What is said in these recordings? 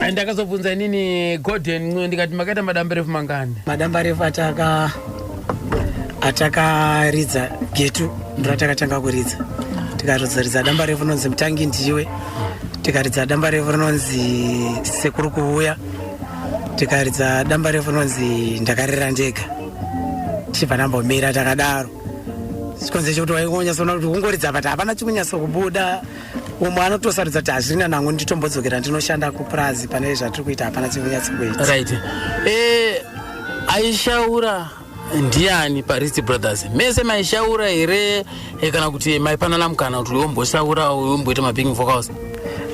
And ndakazobvunza inini Gordon Ncube ndikati makaita madambarefu mangani? Madambarefu ataka atakaridza getu ndiro atakatanga kuridza tikazoridza damba refu rinonzi mutangi ndiwe tikaridza damba refu rinonzi sekuru kuuya tikaridza damba refu rinonzi ndakarera ndega tichibva ndambomira takadaro chikonzero chekuti waingonyatsoona kuti kungoridza but hapana chikunyatso kubuda umwe anotosarudza kuti hazvirina nangu nditombodzokera ndinoshanda kupurazi pane zvatiri kuita hapana chikunyatsi kuita right eh, aishaura ndiani parisi brothers mese maishaura here eh, kana kuti maipanana mukana kuti womboshaura womboita mabing vocals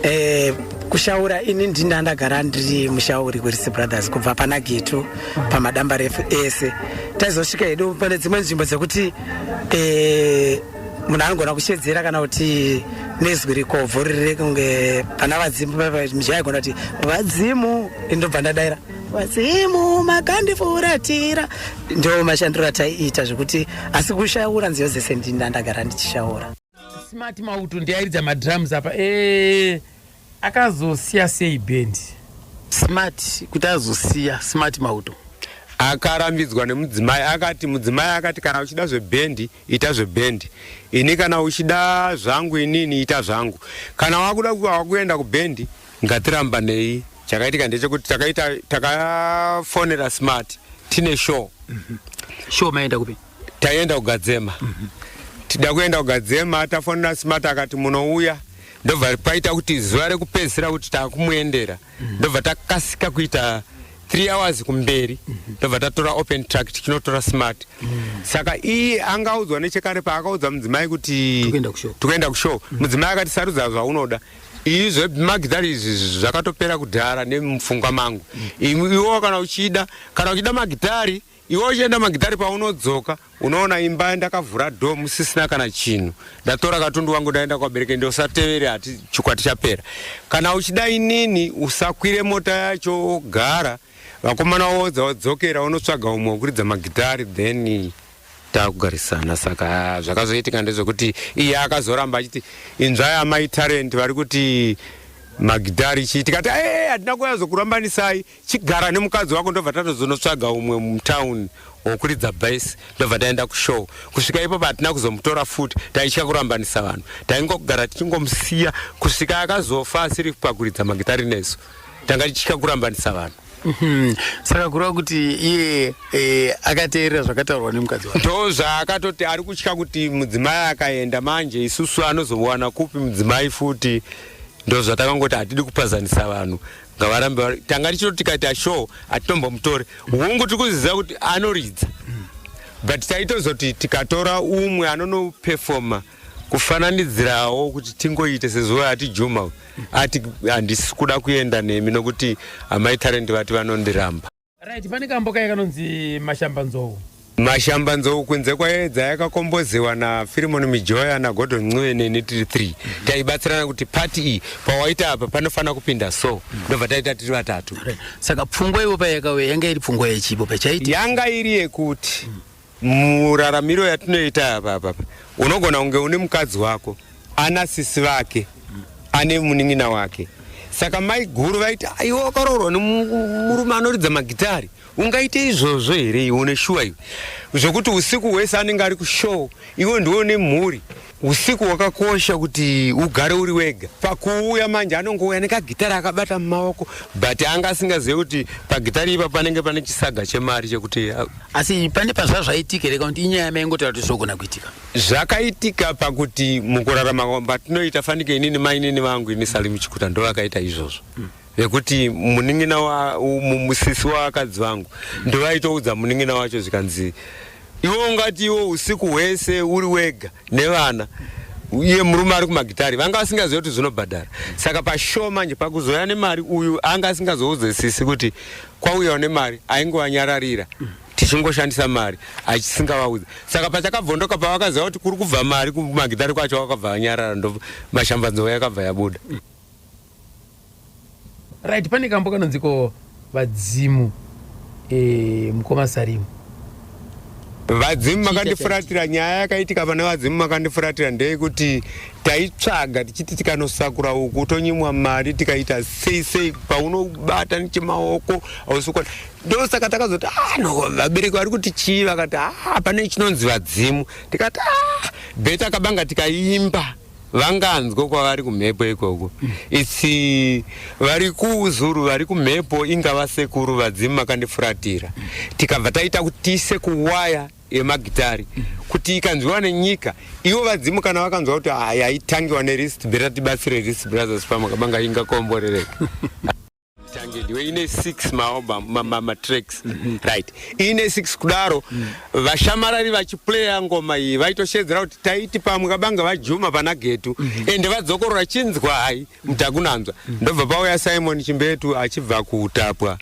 eh, kushaura ini ndina ndagara ndiri mushauri werisi brothers kubva pana getu pamadambarefu ese taizosvika hedu pane dzimwe nzvimbo dzekuti eh, munhu anogona kushedzera kana kuti nezwi rikobvu riri kunge pana vadzimu mizhi aigona kuti vadzimu ndobva ndadaira vadzimu makandifuratira ndo mashandiro ataiita zvekuti asi kushaura nziyo dzese ndinda ndagara ndichishaura smart mauto ndiairidza madrums apa ee eh. Akazosiya sei band. Smart kuti azosiya smart mauto. Akarambidzwa nemudzimai akati mudzimai akati kana uchida zveband ita zveband ini kana uchida zvangu inini ita zvangu kana wakuda wakuenda kuband ngatirambanei chakaitika ndechekuti takaita takafonera smart tine show mm -hmm. show maenda kupi taienda kugadzema tida kuenda kugadzema tafonera smart akati munouya ndobva paita kuti zuva rekupedzisira kuti takumuendera ndobva takasika kuita three hours kumberi ndobva tatora open tract tinotora smart saka iye angaudzwa nechekare paakaudza mudzimai kuti Tokuenda kushow. tokuenda kushow mudzimai akati sarudza zvaunoda iyi zvemagitari izvi zvakatopera kudhara nemupfungwa mangu Imi- iwo kana uchida kana uchida magitari Iwe uchienda magitare paunodzoka unoona imba ndakavhura door musisina kana chinhu ndatora katundu wangu ndaenda kwabereke ndosatevere hati chikwati chapera kana uchida inini usakwire mota yacho wogara vakomana wodza wadzokera unotsvaga umwe wekuridza magitare then takugarisana saka ah, zvakazoitika ndezvekuti iye akazoramba achiti inzvai amai talent vari kuti magitare chii tikati ee hatina kuyazokurambanisai chigara nemukadzi wako ndobva tatozonotsvaga umwe mutown wokuridza bas ndobva taenda kushow kusvika ipo patina kuzomutora futi taitya kurambanisa vanhu taingogara tichingomusiya kusvika akazofa asiri pakuridza magitari nesu tanga tichitya kurambanisa vanhu mhm. saka kureva kuti iye e, akateerera zvakataurwa nemukadzi wake ndo zvaakatoti ari kutya kuti mudzimai akaenda manje isusu anozowana kupi mudzimai futi ndo zvatakangoti hatidi kupazanisa vanhu ngavarambe vari tanga tichito tikaita show atitombomutori hungu tiri kuziva kuti anoridza but taitozoti tikatora umwe anonopefoma kufananidzirawo kuti tingoite sezuva yati juma ati handisi kuda kuenda nemi nokuti amai tarendi vati vanondiramba Right, pane kambo kaye kanonzi Mashamba Nzou. Mashamba Nzou kunze kwaedza yakakombozewa na Philemon Mijoya na Gordon Ncube ne Nitri 3. Taibatsirana kuti party iyi pawaita apa panofanira kupinda so. Ndobva taita tiri vatatu. Saka pfungwa ivo payakauya yanga iri pfungwa yechipo pachaiti. Yanga iri yekuti Muraramiro yatinoita apa apa unogona kunge une mukadzi wako ana sisi vake ane munin'ina wake saka mai guru vaiti aiwa wakaroorwa nemurume anoridza magitari ungaite izvozvo here iwe une shuwa iwe zvokuti usiku hwese anenge ari kushow iwe ndiwe une mhuri Usiku wakakosha kuti ugare uri wega. Pakuuya manje anongouya nekagitari akabata mumaoko but anga asingazive kuti pagitari ipa panenge pane chisaga chemari chekuti uh, asi pane pazva zvaitika here kuti inyaya yamaingotaura kuti zvogona kuitika zvakaitika pakuti mukurarama kwatinoita fanike inini mainini vangu ini salimu chikuta ndovakaita izvozvo mm. nekuti munin'ina wa mu- musisi wavakadzi vangu ndovaitoudza munin'ina wacho zvikanzi iwe ungati iwe usiku hwese uri wega nevana iye murume ari kumagitari vanga vasingazive kuti zvinobhadhara saka pashow manje pakuzouya nemari uyu anga asingazoudze sisi kuti kwauyawo nemari aingowanyararira tichingoshandisa mari achisingavaudze saka pachakabvondoka pavakaziva kuti kuri kubva mari kumagitari kwacho vakabva vanyarara ndo mashambanzova yakabva yabuda right pane kambo kanonziko vadzimu eh, mukoma sarimu vadzimu makandifuratira nyaya yakaitika pana vadzimu makandifuratira ndeyekuti taitsvaga tichiti tikanosakura uku tonyimwa mari tikaita sei sei paunobata nechemaoko ausukwa ndosaka takazoti ah, no vabereki vari kuti chii vakati ah, pane chinonzi vadzimu tikati ah, beta kabanga tikaimba vanganzwa kwavari kumhepo ikoko its vari kuzuru vari kumhepo inga vasekuru vadzimu makandifuratira tikabva taita kuti tiise kuwaya yemagitari kuti ikanzwiwa nenyika ivo vadzimu kana vakanzwa kuti haya itangiwa nerist beta tibatsire rist brothers pamakabanga ingakomborereka tange ndiwe ine six maoba matracks mhm. right ine six kudaro mm. vashamarari vachiplaya ngoma iyi vaitoshedzera kuti taiti pamwe kabanga vajuma pana getu mhm. ende vadzokorora chinzwa hai mutakunanzwa mhm. ndobva pauya simon chimbetu achibva kutapwa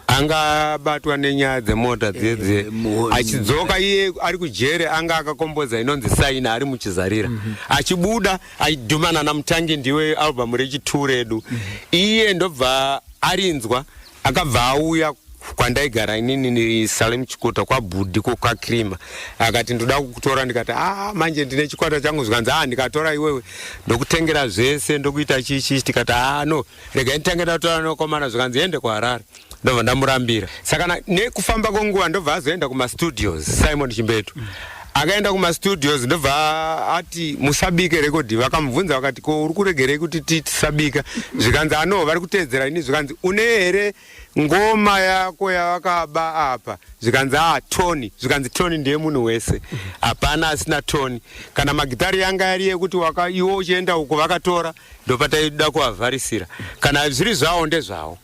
anga abatwa nenyaya dzemota eh, dzedze eh, achidzoka iye ari kujere anga akakomboza inonzi saina ari muchizarira mhm. achibuda aidhuma nana mutangi ndiwe album rechitu redu mm -hmm. iye ndobva arinzwa akabva auya kwandaigara inini salem chikota kwabhudhi ko kwakrima akati ndoda kukutora ndikati a ah, manje ndine chikwata changu zvikanzi a ah, ndikatora iwewe ndokutengera zvese ndokuita chichi tikati a ah, no rega nditenge ndatorandokomana zvikanzi ende kuharare ndobva ndamurambira saka na- nekufamba kwenguva ndobva azoenda kumastudios simon chimbetu akaenda kumastudios ndobva a- ati musabike rekodhi vakamubvunza vakati ko uri kuregerei kuti ti- tisabika zvikanzi anoo vari kuteedzera ini zvikanzi une here ngoma yako yavakaba apa zvikanzi a tony zvikanzi tony ndiye munhu wese hapana asina tony kana magitari yanga yari yekuti waka iwo uchienda uko vakatora ndopataida kuavharisira kana zviri zvawo ndezvawo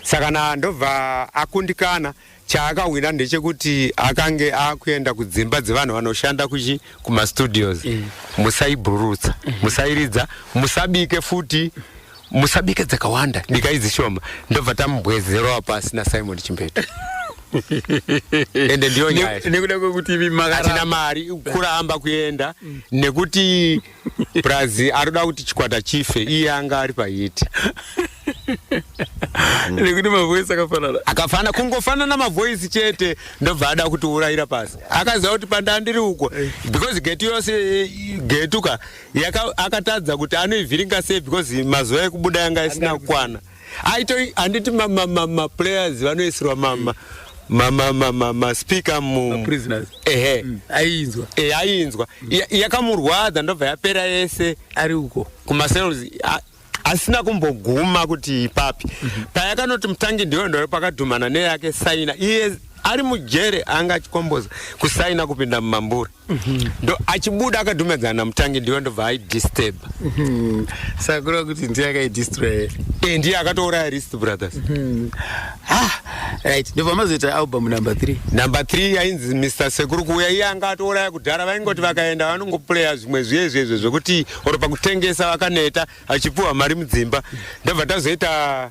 saka na ndobva akundikana chaakahwina ndechekuti akange akuenda kudzimba dzevanhu vanoshanda kuchi kumastudios mm. musaibhurutsa mm. musairidza musabike futi musabike dzakawanda bikai dzishoma ndobva tamubwezerowa pasi nasimon chimbeto ende ndiyo nyaya nekuda kwekuti imi makaratina mari kuramba kuenda mm. nekuti mm. plus arikuda kuti chikwata chife iye anga ari pahiti nekuti mavoisi akafanana akafanana kungofanana mavoisi chete ndobva ada kuti urayira pasi akaziva kuti pandandiri uko because getu yose getuka akatadza kuti anoivhiringa sei because mazuva ekubuda yanga isina kukwana aito handiti maplayers vanoisirwa mama maspeaker ehe mm. ainzwa e eh, ainzwa yakamurwadza ndobva yapera yese ari uko kumasales asina kumboguma kuti ipapi mhm. payakanoti mutangi ndiyo ndoyo pakadhumana neyake saina iye ari mujere anga achikomboza kusaina kupinda mumambure ndo achibuda akadhumedzana namutangi ndiwe ndobva aidisturb Mhm. sakura kuti ndiye akaidistroy Eh, ndiye akatouraya rist brothers ah right ndobva mazoita album number 3 number 3 yainzi mr sekuru kuuya iye anga atouraya kudhara vaingoti vakaenda vanongopuleya zvimwe zviye zviye zviye zvekuti or pakutengesa vakaneta achipuwa mari mudzimba ndobva tazoita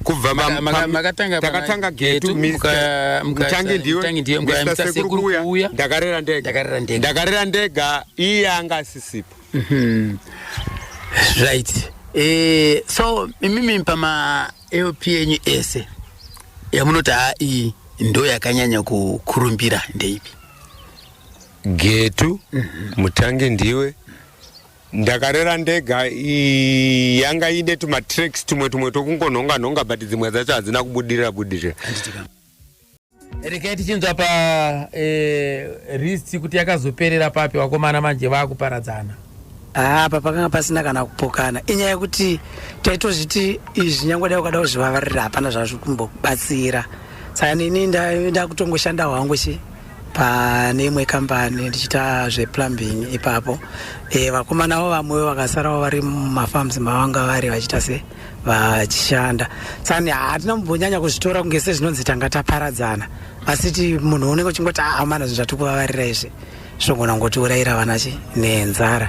kubva takatanga getu mutangi ndiwe mr sekuru kuuya ndakarera ndega ndakarera ndega iye anga asisipo mhm. right eh, so imimi pama lp enyu ese yamunoti haa iyi ndo yakanyanya kukurumbira ndeipi getu mhm. mutangi ndiwe mm -hmm. Ndakarera ndega ii, yanga ine tumatracks tumwe tumwe tokungonhonga nhonga but dzimwe dzacho hadzina kubudirira budirira. Regai tichinzwa pa eh, list kuti yakazoperera papi vakomana manje vakuparadzana. Ah, apa pakanga pasina kana kupokana inyaya yekuti taitozviti izvi nyangwe dai ukada kuzvivavarira hapana zvazviri kumbokubatsira saka nini nda- ndakutongoshanda hwangu chi pane imwe kambani ndichiita zveplumbing ipapo e, vakomana vo vamwewo vakasarawo vari mumafarms mavanga vari vachiita se vachishanda sani hatina mumbonyanya kuzvitora kunge sezvinonzi tanga taparadzana asiti munhu unenge uchingoti amana ah, zvinhu zvatikuvavarira izvi zvogona kungotiurayira vana chi nenzara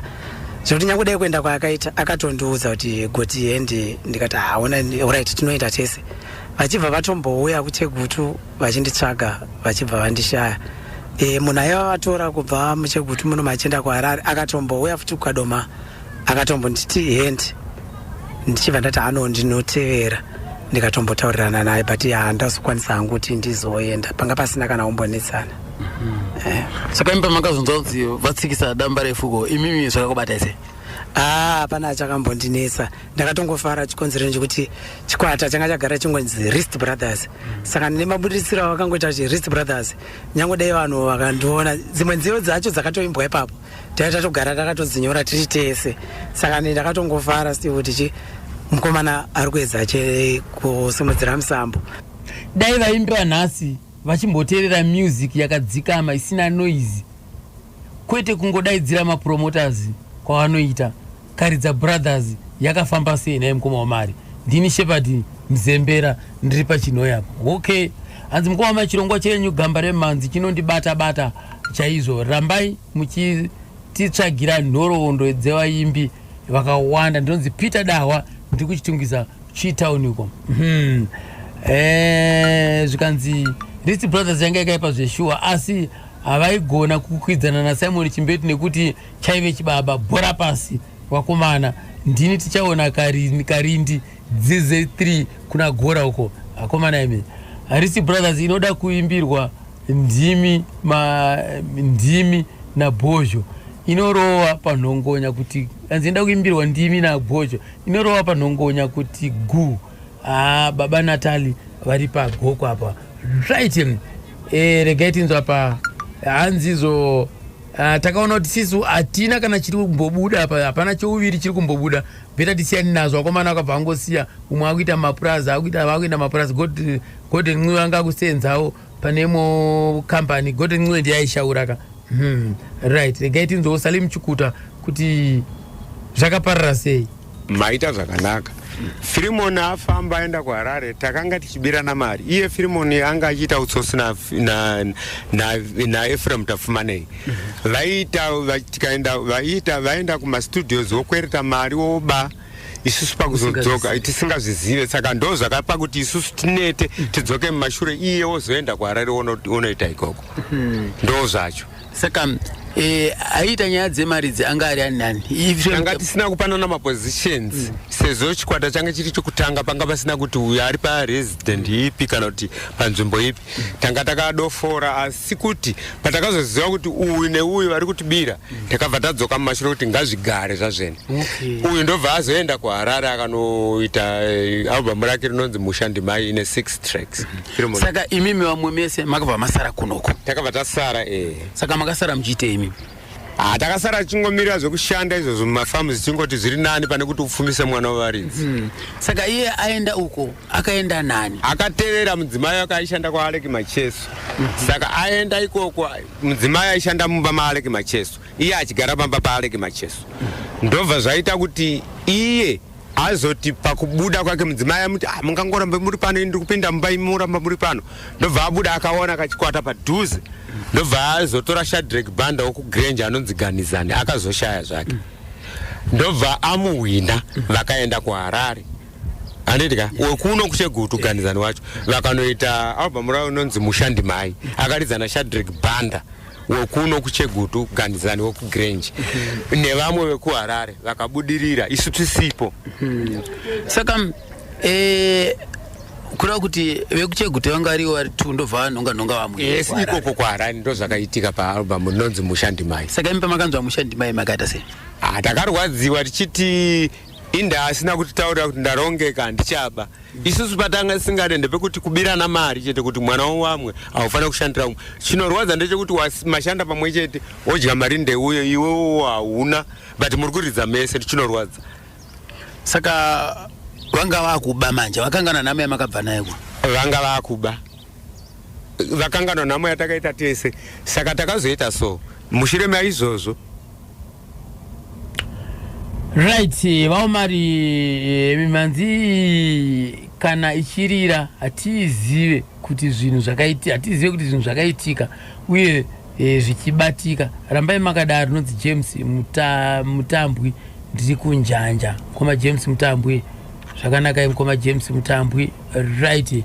zvekuti nyange dai kuenda kwaakaita akatondiudza kuti goti endi ndikati haona ah, orit tinoita tese vachibva vatombouya kuchegutu vachinditsvaga vachibva vandishaya e, munhu aiva vatora kubva muchegutu muno machienda kuharare akatombouya futi kukadoma akatombonditi hendi ndichibva ndati ano ndinotevera ndikatombotaurirana naye but handazokwanisa hangu kuti ndizoenda panga pasina kana umbonetsana eh. saka imi pamakazonzwa kuti vatsikisa damba refuko imimi zvakakubatai sei ah, hapana ah, achakambondinetsa ndakatongofara chikonzero chekuti chikwata changa chagara chingonzi rist brothers saka ndine mabudiritsiro avakangoita kuti rist brothers nyange dai vanhu vakandiona dzimwe nziyo dzacho dzakatoimbwa ipapo taiva tatogara takatodzinyora tiri tese saka ni ndakatongofara sti kuti chi mukomana ari kuedza che kusimudzira musambo dai vaimbi vanhasi vachimboteerera music yakadzikama isina noise kwete kungodaidzira mapromoters kwavanoita karidza brothers yakafamba sei nhai mukoma wamari ndini shepherd mzembera ndiri pachinhoyi apa okay hanzi mukoma wamari chirongwa chenyu gamba remhanzi chinondibata bata chaizvo rambai muchititsvagira nhoroondo dzevaimbi vakawanda ndinonzi peter dahwa ndiri kuchitungisa chitown uko hmm. eh, zvikanzi risi brothers yanga yakaipa zveshuwa asi havaigona kukwidzana nasimon chimbeti nekuti chaive chibaba bhora pasi vakomana ndini tichaona karindi, karindi dz3 kuna gora uko vakomana imi harisi brothers inoda kuimbirwa ndimi ma, ndimi nabhozho inorowa panhongonya kuti anzi inoda kuimbirwa ndimi nabhozho inorowa panhongonya kuti guu Haa baba Natali vari pagoko apa right e, eh, regai tinzwa apa hanzi izvo ah, takaona kuti sisi hatina kana chiri kumbobuda apa hapana chouviri chiri kumbobuda beta tisiyani nazvo akomana akabva angosiya umwe akuita mapurazi akuita vakuenda mapurazi golden mwiva ngakusenzawo pane imwe company gote ncwendi yaishaura ka hmm. right regai tinzwewo salim chikuta kuti zvakaparara sei maita zvakanaka firimoni afamba aenda kuharare takanga tichibirana mari iye firimoni anga achiita utsotsi naefraim tafumanei vaiita tikaenda vaiita vaenda kumastudios wokwereta mari woba isusu pakuzodzoka tisingazvizive saka ndo zvakapa kuti isusu tinete tidzoke mumashure iye wozoenda kuharare wonoita ikoko hmm. ndo zvacho saka eh, aiita nyaya dzemari idzi anga ari ani nani tanga tisina kupanana mapositions mm. sezvo chikwata change chiri chokutanga panga pasina kuti uyo ari paresident ipi kana kuti panzvimbo ipi tanga takadofora asi kuti patakazoziva kuti uyu neuyu vari kutibira takabva tadzoka mumashure kuti ngazvigare zvazvene uyu ndobva azoenda kuharare akanoita eh, album rake rinonzi musha ndimai ine six tracks Filomo- saka imimi vamwe mese makabva masara kunoko takabva tasara eh. saka makasara muchiitei imimi Ah, takasara tichingomirira zvekushanda izvozvo mumafamu zichingoti zviri nani pane kuti upfumise mwana wevaridzi hmm. saka iye aenda uko akaenda nani akatevera mudzimai wake aishanda kwaaleki macheso mhm. saka aenda ikoko mudzimai aishanda mumba maaleki macheso iye achigara pamba paaleki macheso mhm. ndobva zvaita kuti iye azoti pakubuda kwake mudzimai amuti ah, mungangoramba muri pano ini ndikupinda mumba imi muramba muri pano ndobva abuda akaona kachikwata padhuze ndobva azotora shadrek banda wokugrange anonzi ganizani akazoshaya zvake ndobva amuhwina vakaenda kuharare andidya wekuno kuchegutu ganizani wacho vakanoita albhamu ravo inonzi mushandi mai akaridzana shadrek banda wekuno kuchegutu ganizani wekugrange nevamwe vekuharare vakabudirira isu tisipo hmm. saka eh, kureva kuti vekuchegutu vanga variwo vari tu ndobva vanhonga nhonga vamwe yes ikoko kuharare ndo zvakaitika paalbum rinonzi mushandimai saka imi pamakanzwa mushandimai makaita sei ah, takarwadziwa tichiti inda asina kutitaurira kuti ndarongeka handichaba isusu patanga singade ndepekuti kubirana mari chete kuti mwana wamwe haufanira kushandira umwe chinorwadza ndechekuti mashanda pamwe chete wodya mari ndeuyo iwewo hauna but muri kuridza mese chinorwadza saka vanga vakuba manje vakangana nhamo yamakabva nayo vanga vakuba vakangana nhamo yatakaita tese saka takazoita so mushure maizvozvo Right, vaomari eh, mimanzi kana ichirira hatizive kuti zvinhu zvakaitika hatizive kuti zvinhu zvakaitika uye e, zvichibatika rambai makadaro rinonzi james muta, mutambwi ndiri kunjanja mukoma james mutambwi zvakanakai mukoma james mutambwi right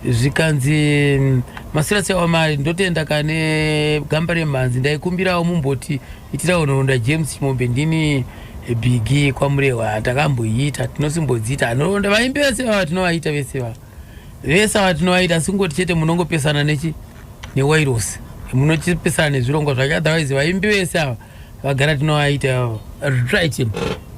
zvikanzi mm, masirasi awamari ndotenda kane gamba remhanzi ndaikumbirawo mumboti Itirawo nhoroondo James Chimombe ndini bigi kwamurehwa takamboiita tinosimbodziita nhoroondo vaimbi vese vava tinovaita vese vava vese ava tinovaita asi kungoti chete munongopesana nechi newairosi munotipesana nezvirongwa zvake otherwise vaimbi vese ava vagara tinovaita ivavo right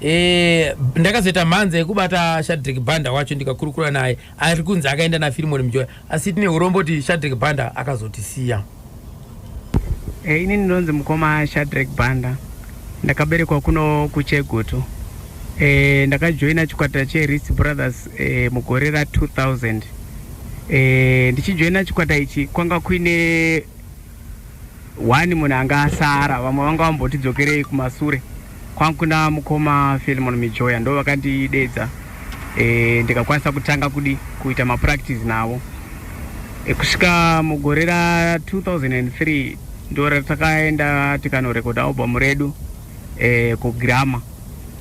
eh, ndakazoita mhanza yekubata shadrik banda wacho ndikakurukura naye ari kunzi akaenda nafirimoni mjoya asi tine urombo kuti shadrek banda akazotisiya e, eh, ini ndinonzi mukoma shadrek banda ndakaberekwa kuno kuchegutu e, ndakajoina chikwata cheris brothers e, mugore ra 2000 e, ndichijoina chikwata ichi kwanga kuine One munhu anga asara vamwe vanga vamboti dzokerei kumasure kwangu kuna mukoma Philemon Mijoya ndo vakandidedza e, eh, ndikakwanisa kutanga kudi kuita mapractice navo e, kusvika mugore ra 2003 ndo ratakaenda tikanorekoda album redu e, kugrama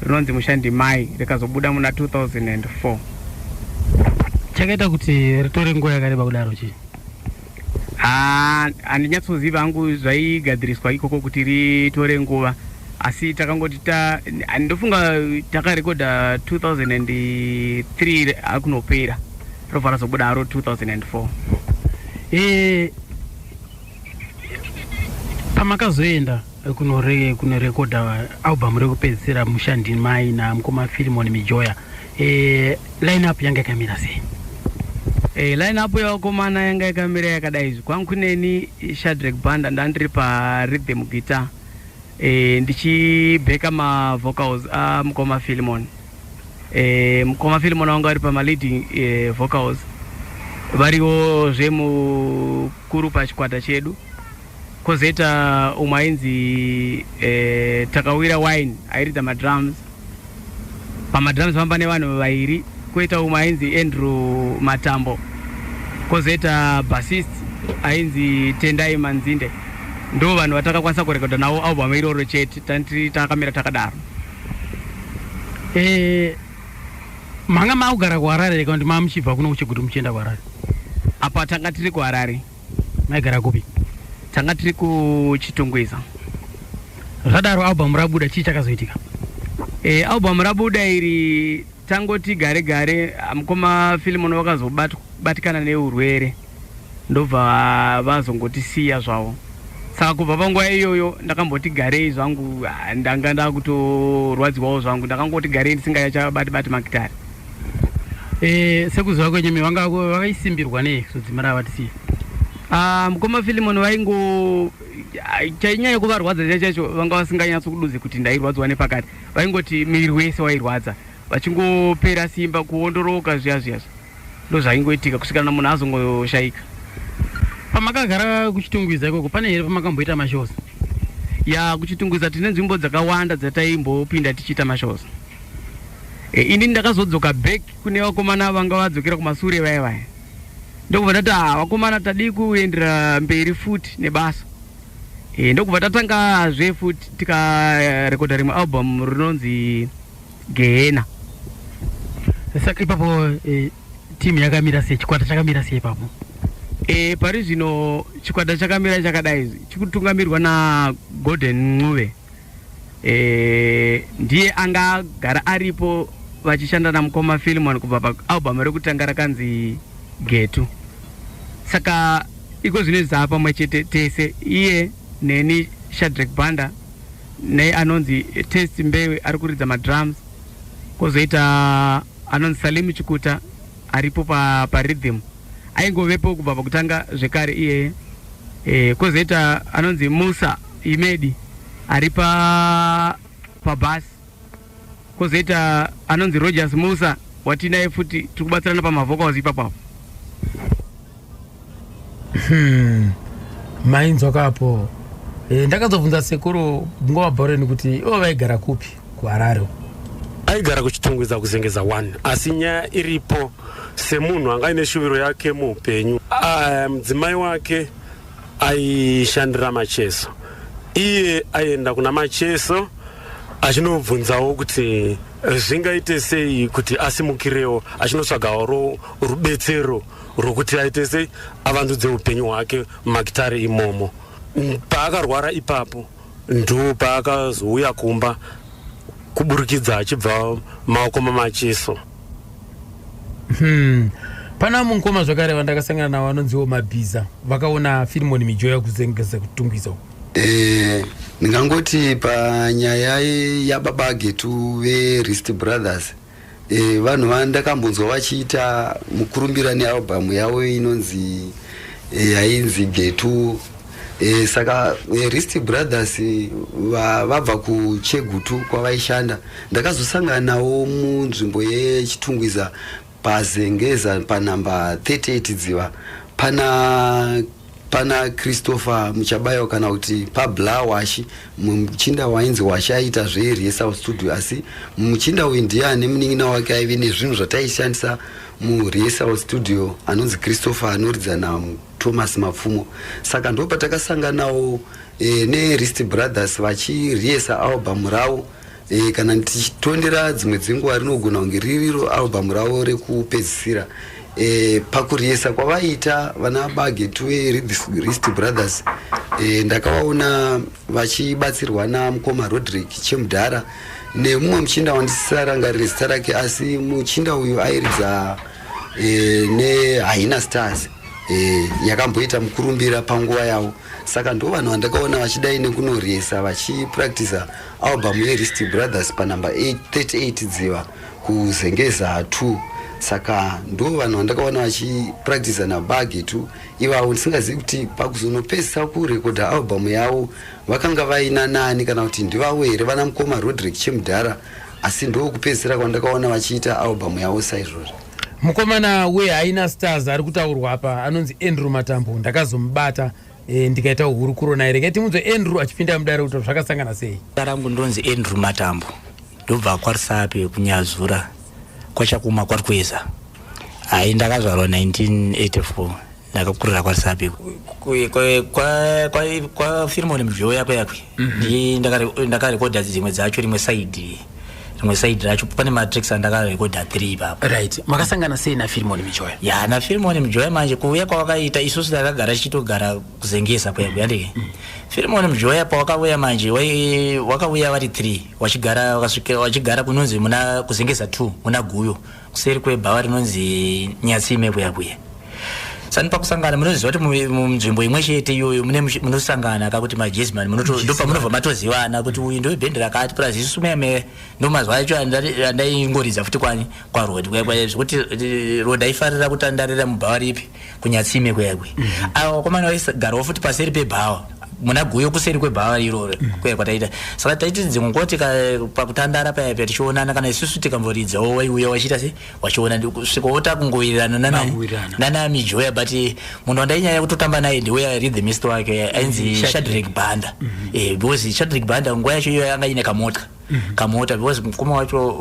rinonzi mushandi mai rikazobuda muna 2004 chakaita kuti ritore nguva yakareba kudaro chii Haa handinyatsoziva hangu zvaigadziriswa ikoko kuti ritore nguva asi takangoti ta ndofunga takarekodha 2003 akunopera robva razobuda haro 2004 e, pamakazoenda kunorekodha albhamu rekupedzisira mushandimai namukoma filimoni mijoya Eh, line up yanga yakamira sei Eh, line up yevakomana yanga yakamira yakadai izvi kwangu neni shadrek banda ndandiri parhythm guitar eh, ndichibheka mavocals amukoma filimon eh, mukoma filimon vanga vari pamaleading eh, vocals variwo zve mukuru pachikwata chedu Kozoita umwe ainzi eh, Takawira Wine airidza madrums. Pamadrums panga pane vanhu vairi. Koita umwe ainzi Andrew Matambo. Kozoita bassist ainzi Tendai Manzinde. Ndo vanhu vatakakwanisa kurekodha navo album iroro chete tanti takamira takadaro. Eh, manga makugara kuharare here kana kuti manga muchibva kuno kuchigutu muchienda kuharare Apa tanga tiri kuHarare. maigara kupi tanga tiri kuchitungwiza zvadaro album rabuda chii chakazoitika e, album rabuda iri tangoti gare gare mukoma filimoni vakazobatikana neurwere ndobva vazongotisiya zvavo saka kubva panguva iyoyo ndakamboti garei zvangu ndanga ndakutorwadziwawo zvangu ndakangoti garei ndisingayachabati bati makitari Eh, sekuziva kwenyu mi vanga vakaisimbirwa nei kuzodzima rava tisiye Ah, mukoma filimon vaingo ah, chainyanya kuvarwadza chaicho chaicho vanga vasinganyatso kuduze kuti ndairwadziwa nepakati vaingoti miviri wese wairwadza vachingopera simba kuondoroka zviya zviya zviya. ndozvaingoitika kusvikana munhu azongoshaika pamakagara kuchitungwiza ikoko pane here pamakamboita mashows ya kuchitungwiza tine nzvimbo dzakawanda dzataimbopinda tichiita mashows E, ini ndakazodzoka back kune vakomana vanga vadzokera kumasure vaya vaya ndokubva tati ah, vakomana tadii kuendera mberi futi nebasa e, ndokubva tatangazve futi tikarekodha rimwe album rinonzi gehena saka ipapo e, timu yakamira sei chikwata chakamira sei ipapo e, pari zvino chikwata chakamira chakadai chikutungamirirwa nagolden ncube e, ndiye anga agara aripo vachishanda namukoma Philemon kubva paalbum rekutanga rakanzi Getu. Saka iko zvino zaa pamwe chete tese iye neni Shadrack Banda nei anonzi Test Mbewe ari kuridza madrums kozoita anonzi Salim Chikuta aripo pa, pa rhythm aingovepo kubva pakutanga zvekare iyeye e, kozoita anonzi musa imedi ari pa pabhasi kozoita anonzi rogers musa watinaye futi tiri kubatsirana pamavhokauzi ipapapo hmm. mainzwa kapo e, ndakazobvunza sekuru ngova bhoreni kuti ivo vaigara kupi kuHarare uko. Aigara kuChitungwiza kuZengeza 1 asi nyaya iripo semunhu anga aine shuviro yake muupenyu. Ah, mudzimai wake aishandira Macheso, iye aienda kuna Macheso achinobvunzawo kuti zvingaite sei kuti asimukirewo, achinotsvagawo ro- rubetsero rwokuti aite sei avandudze upenyu hwake mumakitare imomo. Mm, Paakarwara ipapo ndopaakazouya kumba kuburikidza achibva maoko mamacheso hmm. pana mumwe mukoma zvakare vandakasangana navo vanonziwo mabhiza vakaona firimoni mijoya kuzengeza kutungwiza uku eh, ndingangoti panyaya yababa getu verist brothers E, vanhu vandakambonzwa vachiita mukurumbira nealbum yavo inonzi e, yainzi getu e, saka e, rist brothers va, vabva kuchegutu kwavaishanda ndakazosanganawo munzvimbo yechitungwiza pazengeza panhamba 38 dziva pana pana christopher muchabayo kana kuti pablawashi muchinda wainzi washa aita zveirye south studio asi muchinda uyu ndiye ane munin'ina wake aive nezvinhu zvataishandisa murye south studio anonzi christopher anoridza nathomas mapfumo saka ndo patakasanganawo e, eh, nerist brothers vachiriesa album ravo E, kana tichitondera dzimwe dzenguva rinogona kunge ririro albhamu ravo rekupedzisira e, pakuriesa kwavaita vana bagetuwe rist brothers e, ndakavaona vachibatsirwa namukoma rodrick chemudhara nemumwe muchinda wandisisarangarire zita rake asi muchinda uyu airidza e, nehaina stars e, yakamboita mukurumbira panguva yavo saka ndo vanhu vandakaona vachidai nekunoriesa vachipractisa Album ye Risty Brothers pa number 38 Dziva kuzengeza 2 saka ndo vanhu vandakaona vachipractisa nabagi tu ivavo ndisingazivi kuti pakuzonopedzisa kurekodha albhamu yavo vakanga vaina nani kana kuti ndivavo here vana mukoma rodrick chemudhara asi ndo kupedzisira kwandakaona vachiita albhamu yavo saizvozvo mukomana wehaina stars ari kutaurwa apa anonzi andrew matambo ndakazomubata Eh, ndikaita hurukuro naye regai timunzwe andrew achipinda mudare kuti zvakasangana sei zita rangu ndonzi andrew matambo ndobva kwarisape kunyazura kwachakuma kwari kueza hai ndakazvarwa 1984 ndakakurira kwarisape kwafirimone mivhiyo yako yakwe mhm. ndakarekodha dzimwe dzacho rimwe saidi rimwe side racho pane matricks andakarekodha 3 ipapo right makasangana sei nafirimoni mijoya ya nafirimoni mijoya manje kuuya kwawakaita isusu takagara tichitogara kuzengesa kuya kuya ndike mm. firimoni mijoya pawakauya manje wakauya vari 3 wachigara wachigara kunonzi muna kuzengesa 2 muna guyo kuseri kwebhawa rinonzi nyatsime kuya kuya sani pakusangana munoziva kuti munzvimbo imwe chete iyoyo munosangana ka kuti majesman ndopamunobva matozivana kuti uyu ndowebhendi rakati plus isu meme ndomazuva acho andaingoridza futi kwani kwarod zvekuti rod aifarira kutandarira mubhawa ripi kunyatsime kuya kwe mm -hmm. awa komana waisagarawo futi paseri pebhawa muna guyo kuseri kwebhawa iroro mm. kuya kwataita saka taiti dzimwe nguva tika pakutandara paya pya tichionana kana isusu tikamboridzawo waiuya wachiita se wachiona svika wota kungowirirana nana nana mijoya but munhu wandainyanya kutotamba naye ndiwe arid the mist wake ainzi mm-hmm. shadrik banda mm-hmm. eh, because shadrik banda nguva yacho iyo yanga ine kamotya Mhm. kamota because mukoma wacho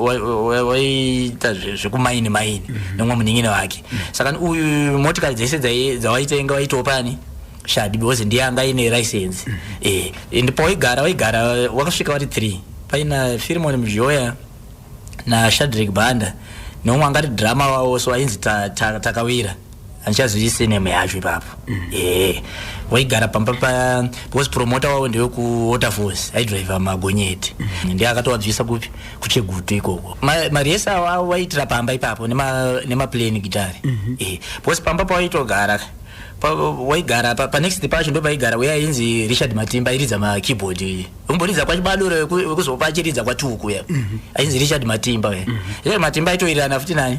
waiita zvekumaini maini mhm. nemwe munin'ina wake mhm. saka uyu motikari dzese dzawaitenga waitawo pani shadi because ndiye anga ine license eh, and pawaigara waigara wakasvika wati three paina firimoni muzhoya nashadrik banda neumwe angati drama wawo so ainzi takawira handichazivi seneme yacho ipapo mm. ee waigara pamba pa because promota wavo ndewe kuwaterfalls aidriva magonyeti mm. ndiye akatovabvisa kupi kuchegutu ikoko mari yese awavo vaiitira pamba ipapo nemaplane gitari mm-hmm. ee because pamba pawaitogara waigara panext pacho ndo paigara uya ainzi richard matimba airidza makeyboard umboridza kwachibadore wekuzopa achiridza kwatuku uya mm-hmm. ainzi richard matimba uya mm-hmm. richard matimba aitoirirana futi nani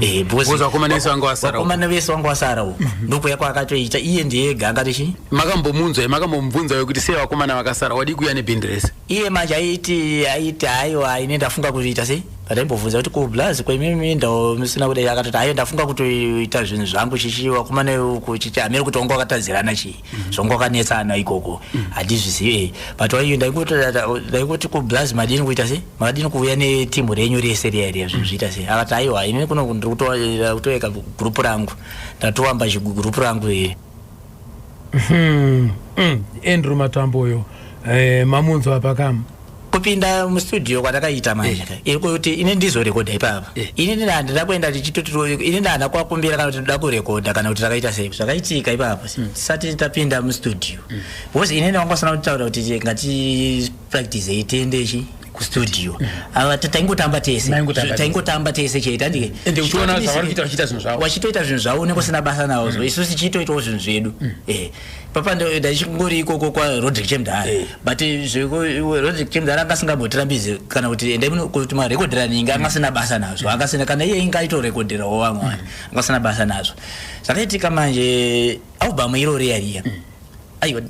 Eh, because Because vakomana vese vanga vasara uko. vakomana vese vanga vasara uko ndokuya kwaakatoita iye ndiye ega angatochi makambomunzwa makambomubvunza wekuti sei vakomana vakasara wadii kuuya nebhindi rese iye manje aiti aiti haiwa ini ndafunga kutoita sei ndaimbobvunza kuti kublaz kwemimi ndao musina kudai akatoti haiwa ndafunga kutoita zvinhu zvangu chichi vakomana uku chichi hamiri kuti wanga wakatadzirana chii mm-hmm. zvongokanetsana ikoko mm-hmm. handizvizive but waiyo ndaingoti kublaz madini kuita se makadini kuuya netimu renyu rese riya riya zvinhu zviita se akati aiwa ini kuno ndiri kutoeka gurupu rangu ndatoamba chigurupu rangu here hmm, hmm. andrew matambo uyo eh, mamunzwa pakam kupinda mustudio kwatakaita manje eh. iri kuti ini ndizorekodha ipapa eh. ini ndina handina kuenda tichitoti ini ndahana kwakumbira kana kuti toda kurekodha kana kuti takaita sei zvakaitika ipapa hmm. tisati tapinda mustudio hmm. because ini ndakangosana kutaura kuti ngatipractisei tiende chi kustudio hmm. ava taingotamba tese taingotamba tese chete andike wachitoita zvinhu zvavo unenge usina basa nazvo isu tichitoitawo zvinhu zvedu eh. papa ndaichingori ikoko kwarodrick chemdhara eh. but zvekurodrick chemdhara anga asingambotirambizi kana kuti endai kuti marekodhera ninge anga asina basa nazvo anga asina kana iye inga aitorekodherawo vamwe vanhu mm. anga asina basa nazvo zvakaitika manje album iro riya riya mm. aiwa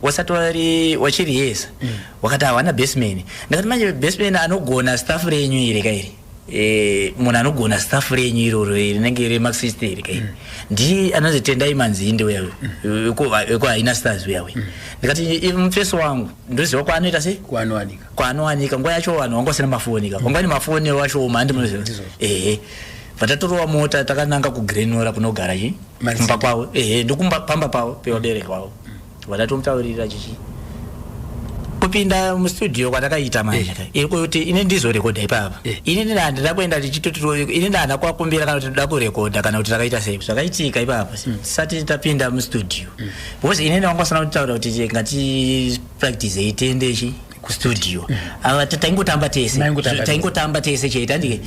wasati wari wachiriyesa mm. wakati hawana basman ndakati manje basman anogona staff renyu iri kairi Eh, munhu anogona staff renyu iroro eh, rinenge remaxist iri kai mm. ndiye anonzi tendai manzinde uya wekuhaina mm. stars uya we mm. ndikati eh, mufesi wangu ndoziva kwaanoita sei kwaanowanika nguva yacho vanhu vanga vasina mafoni ka vanga vane mafoni wacho oma handi munoziva ehe patatorova mota takananga kugrenora kunogara chi kumba kwavo ehe ndokumba pamba pavo pevabereki vavo Watatomutaurira chichi kupinda mustudio kwatakaita manje eh. iri kuti ini ndizorekodha ipapa eh. ini ndina handina kuenda tichitoti ini ndahana kwakumbira kana kuti ndoda kurekodha kana kuti takaita sei zvakaitika ipapa hmm. tisati tapinda mustudio hmm. because ini ndavangosana kutaura kuti ngatipractisei tiendechi kustudio mm. ava taingotamba tese taingotamba tese chete andike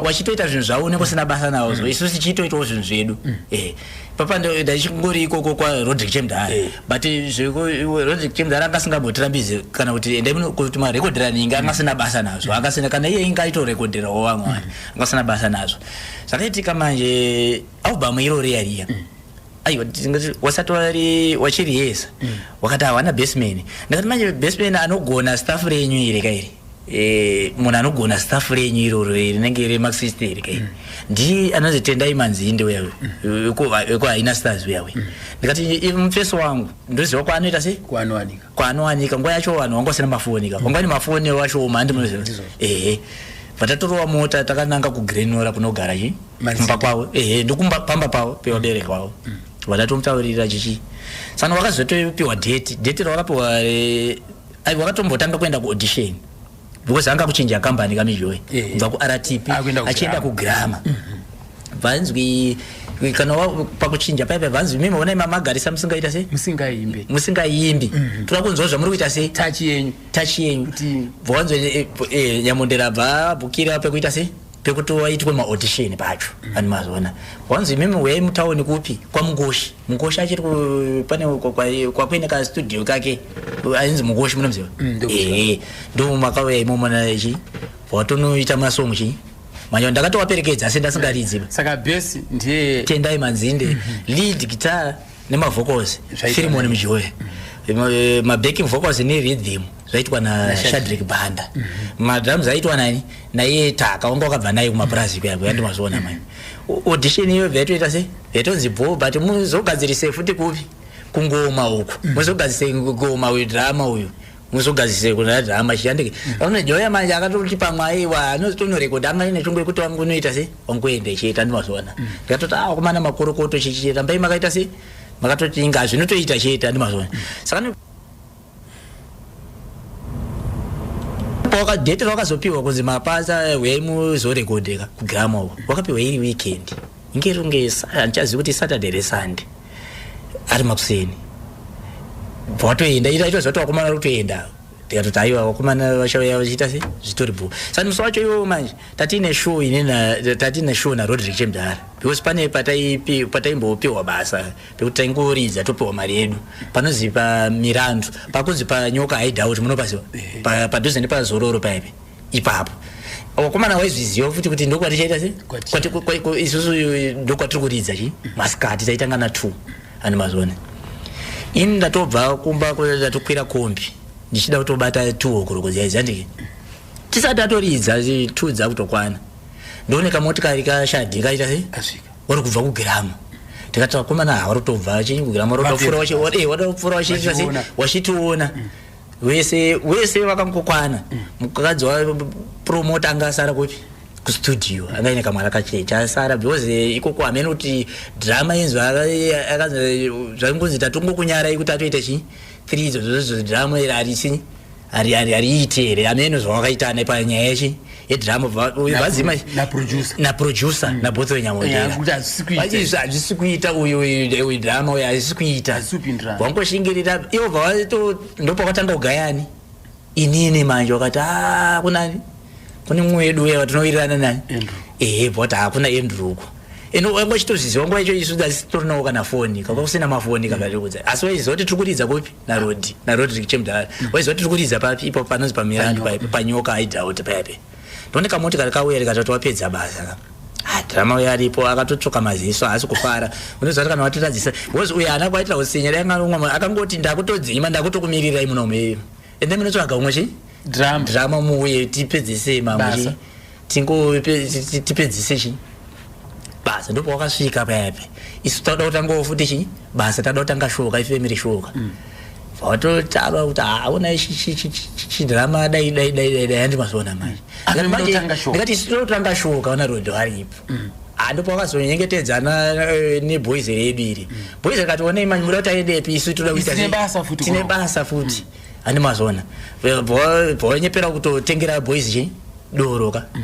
wachitoita zvinhu zvavo unenge usina basa navo mm. isu tichitoitawo zvinhu zvedu mm. eh, papa ndaichingori ikoko kwarodrick chemdhara eh. but zverodrick chemdhara anga asingambotirambizi kana kuti endai kuti marekodhera ninge anga asina basa nazvo anga asina kana iye inga aitorekodherawo vamwe vanhu mm. anga asina basa nazvo zvakaitika manje album iro riya riya mm. aiwa tingati wasati wari wachiriyesa mm. wakati hawana baseman ndakati manje baseman anogona staff renyu iri kairi Eh, munhu anogona staff renyu iroro eh, rinenge remaxist iri kai ndiye anonzi tendai manzinde uya wekuhaina stars uya uya ndikati mufeso wangu ndoziva kwaanoita sei kwaanowanika kwaanowanika nguva yacho vanhu vanga vasina mafoni ka vanga vane mafoni wacho oma handi munoziva ehe vatatorova mota takananga kugrenora kunogara chi kumba kwavo ehe ndokumba pamba pavo pevabereki vavo mm. vatatomutaurira chichi sano vakazotopiwa date date ravakapiwa eh, Aiwa wakatombotanga kuenda ku audition because anga kuchinja company kamijoe Eh. kubva ku RTP Ah, kuenda ku achienda ku grammar vanzwi kana wa- pakuchinja paipa vanzwi mimi onai mamagarisa musingaita sei musingaimbe musingaimbi toda kunzwa zvamuri kuita sei tachi yenyu tachi yenyu Kuti- bvanzwe nyamondera bva bukira pekuita sei pekuti waitwe maaudition pacho mm. ani mazoona wanzi imimi uyai mutauni kupi kwamugoshi mugoshi achiri pane kwakuine kastudio kake ainzi mugoshi munomuziva mm, ehe ndomakauya imomo nachi watonoita masong chii manje ndakatowaperekedza asi ndasingaridziba saka besi ndiye tendai manzinde mm-hmm. lead guitar nemavocals firimoni mjoe eh, mabacking vocals neridhim zvaitwa nashadrik banda mhm. madrums aitwa nani naiye taka wanga wakabva naye kumapurazi kuya kuya ndimazoona mai audition iyo vaitoita sei vaitonzi bho but muzogadzirise futi kupi kungoma uku mhm. muzogadzirise ngoma uyu drama uyu musugazise kuna drama chiyandike aune joya manje akatoti pamwe aiwa anotonorekodha anga ine chungu yekuti wangu unoita se wangu ende chiita ndimazoona mm. ndikatoti ah kumana makorokoto chichi rambai makaita se makatoti inga zvinotoita chiita ndimazoona mm. saka pawaka date rawakazopiwa kunzi mapasa eh, huyai muzorekodheka kugrama uko wakapiwa iri weekend kunge runge handichazivi kuti saturday re sunday ari makuseni bva watoenda ita itoziva kuti wakomana uri kutoenda tikatoti aiwa wakomana vachauya vachiita se zvitori bhu saka musi wacho iwowo manje tatiine show ine tatiine show narodrick chemdara because pane pataimbopiwa basa pekuti taingoridza topiwa mari yedu panozi pamirandu pakunzi panyoka haidhauti munopasiwa padhuze nepazororo paipi ipapo wakomana waizviziva futi kuti ndokwatichaita se isusu ndokwatiri kuridza chi masikati taitanga na two ani mazone ini ndatobva kumba ndatokwira kombi ndichida kutobata two hokoroko ziyaizi andike tisati atoridza two dzakutokwana ndoone kamotikari kashadhi kaita se wari kubva kugirama tikati vakomana hawari kutobva chinyi kugirama wari kutofura wachitiona eh, vese vese vakangokwana mukadzi wapromota anga asara kupi kustudio anga ine kamwana kacheche asara because eh, ikoko hamene kuti drama inzwi zvaingonzi tatongokunyarai kuti atoita chii three idzo zozozvo drama iri harisi hariite here hameno zvawakaita nepanyaya yechii yedrama uyu vazima naproducer mm. nabotho wenyamodeaizvi hazvisi kuita uyu drama uyu hazvisi kuita wangoshingirira ivo vavato ndopakatanga kugayani inini manje wakati a ah, kunani kune mumwe wedu uya vatinowirirana nani ehe bhota hakuna andrew uko and wangachitozviziva nguva icho isu asi torinawo kana foni kanga kusina mafoni kakatikudza asi waiziva kuti tiri kuridza kupi narodi narodrik chemdara waiziva tiri kuridza papi ipo panonzi pamirandu paipo panyoka aidhauta paipe ndone kamotikari kauya rikatoti wapedza basa ka Ah, drama uyo aripo akatotsvoka maziso haasi kufara unoziva kuti kana watiradzisa bcause uyo haana kwaitira usinya raiangaumwe akangoti ndakutodzima ndakutokumirirai muno mei and then munotsvaga umwe chi drama drama muuye tipedzesei mamwe Basa. chi tingo tipedzise chii basa ndipo wakasvika payapa isu tauda kutangawo futi chii basa tauda kutanga shoka ifemiri shoka mm. vatotava kuti haona chidhirama dai dai dai dai dai handi mazoona manje ndikati isu totanga shoka vana rodho varipo mm. handi pavakazonyengetedzana eh, neboys redu iri mm. boys rikati onei manyimura taedepi isu toda kuitine basa futi handi mazona vanyepera kutotengera boys chi doro ka mm.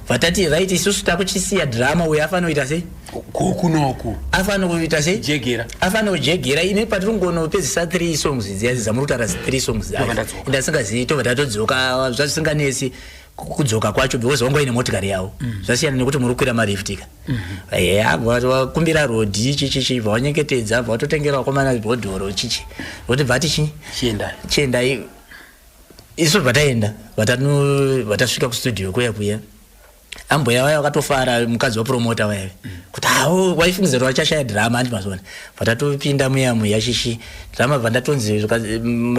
vatati right isusu takuchisiya drama uyo afanoita sei kunoku afanoita sei jegera afanojegera ine patiri kungonopedzisa three songs dziya dzamurutara three songs ndasingazivi tobva tatodzoka zvasinganesi kudzoka kwacho because wangu aine motikari yavo mm. zvasiyana nekuti muri kukwira mariftika eya vakumbira rodhi chichichi vavanyengetedza vavatotengera vakomana bhodhoro chichi voti bvati chii chiendai isu vataenda vatasvika kustudio kuya kuya ambuya vaya vakatofara mukadzi wapromota vayave mm. kuti hao waifungiza kuti vachashaya drama andi mazona vatatopinda muya muya shishi drama bva ndatonzi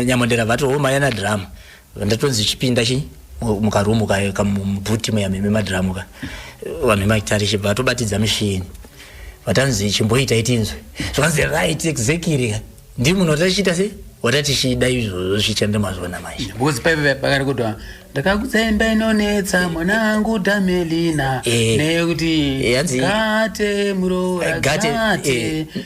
nyamondera vati homa yana drama Ndatonzi chipinda chi mukarumu ka kamubhuti muya meme madhiramu ka vanhu vemaitarishe vatobatidza mishini vatanzi chimboita itinzwe zvanzi right exactly ka ndiri munhu watatichiita sei watatichida izvozvo zvichande mazvona manje because paive pakari kutwa ndakakutsemba inonetsa mwana wangu damelina eh. nekuti eh, gate muroora gate eh.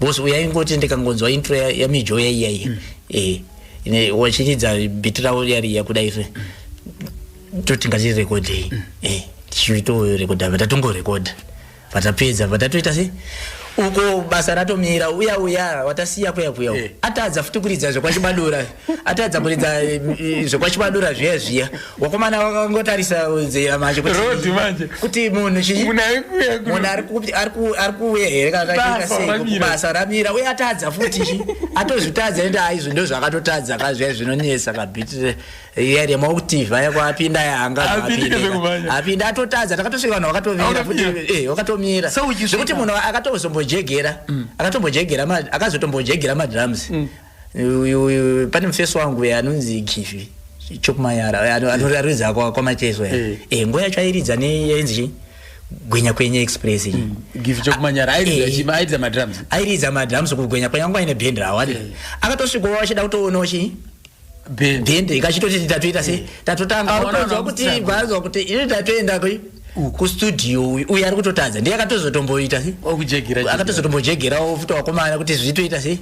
Boss uya ingoti ndikangonzwa intro ya, ya mijo ya iya iya. Mm. Eh. Ine wachidza beat rawo yari yakuda ife. Mm. Toti ngati record iyi. Mm. Eh. Tichito record apa tatongo record. Patapedza patatoita sei? Uko basa ratomira uya uya watasiya kuya kuya. Eh. Atadza futi kuridza zvekwa chibadura. atadza kuridza eh, zvekwachibadura zviya zviya wakomana wakangotarisa zera manje kuti munhu ari kuuya here kanakubasa ramira uye atadza futi chi atozvitadza ende aizvo ndo zvaakatotadza ka zviya zvinonetsa kabhitire iya remakutiv aya kwaapinda yaanga apinda atotadza takatosvika vanhu vakatomira futi eh, vakatomira zvekuti munhu akatozombojegera mm. akatombojegera akazotombojegera madrums mm. pane mufesi wangu eh, anonzi givi chokumayara eh, anoridza eh. kwamacheso e nguva yacho airidza neyainzi chii gwenya kwenye express iyi mm. givi chokumanyara airidza madrums airidza madrums kugwenya kwenye angu aine bhendi rawo ati akatosvikowo achida kutoonawo chii bhendi ikachitoti tatoita se tatotanga autonzwa kuti vanzwa kuti ini tatoenda kui kustudio uyu uyu ari kutotadza ndiye akatozotomboita se akatozotombojegerawo futi wakomana kuti zvitoita sei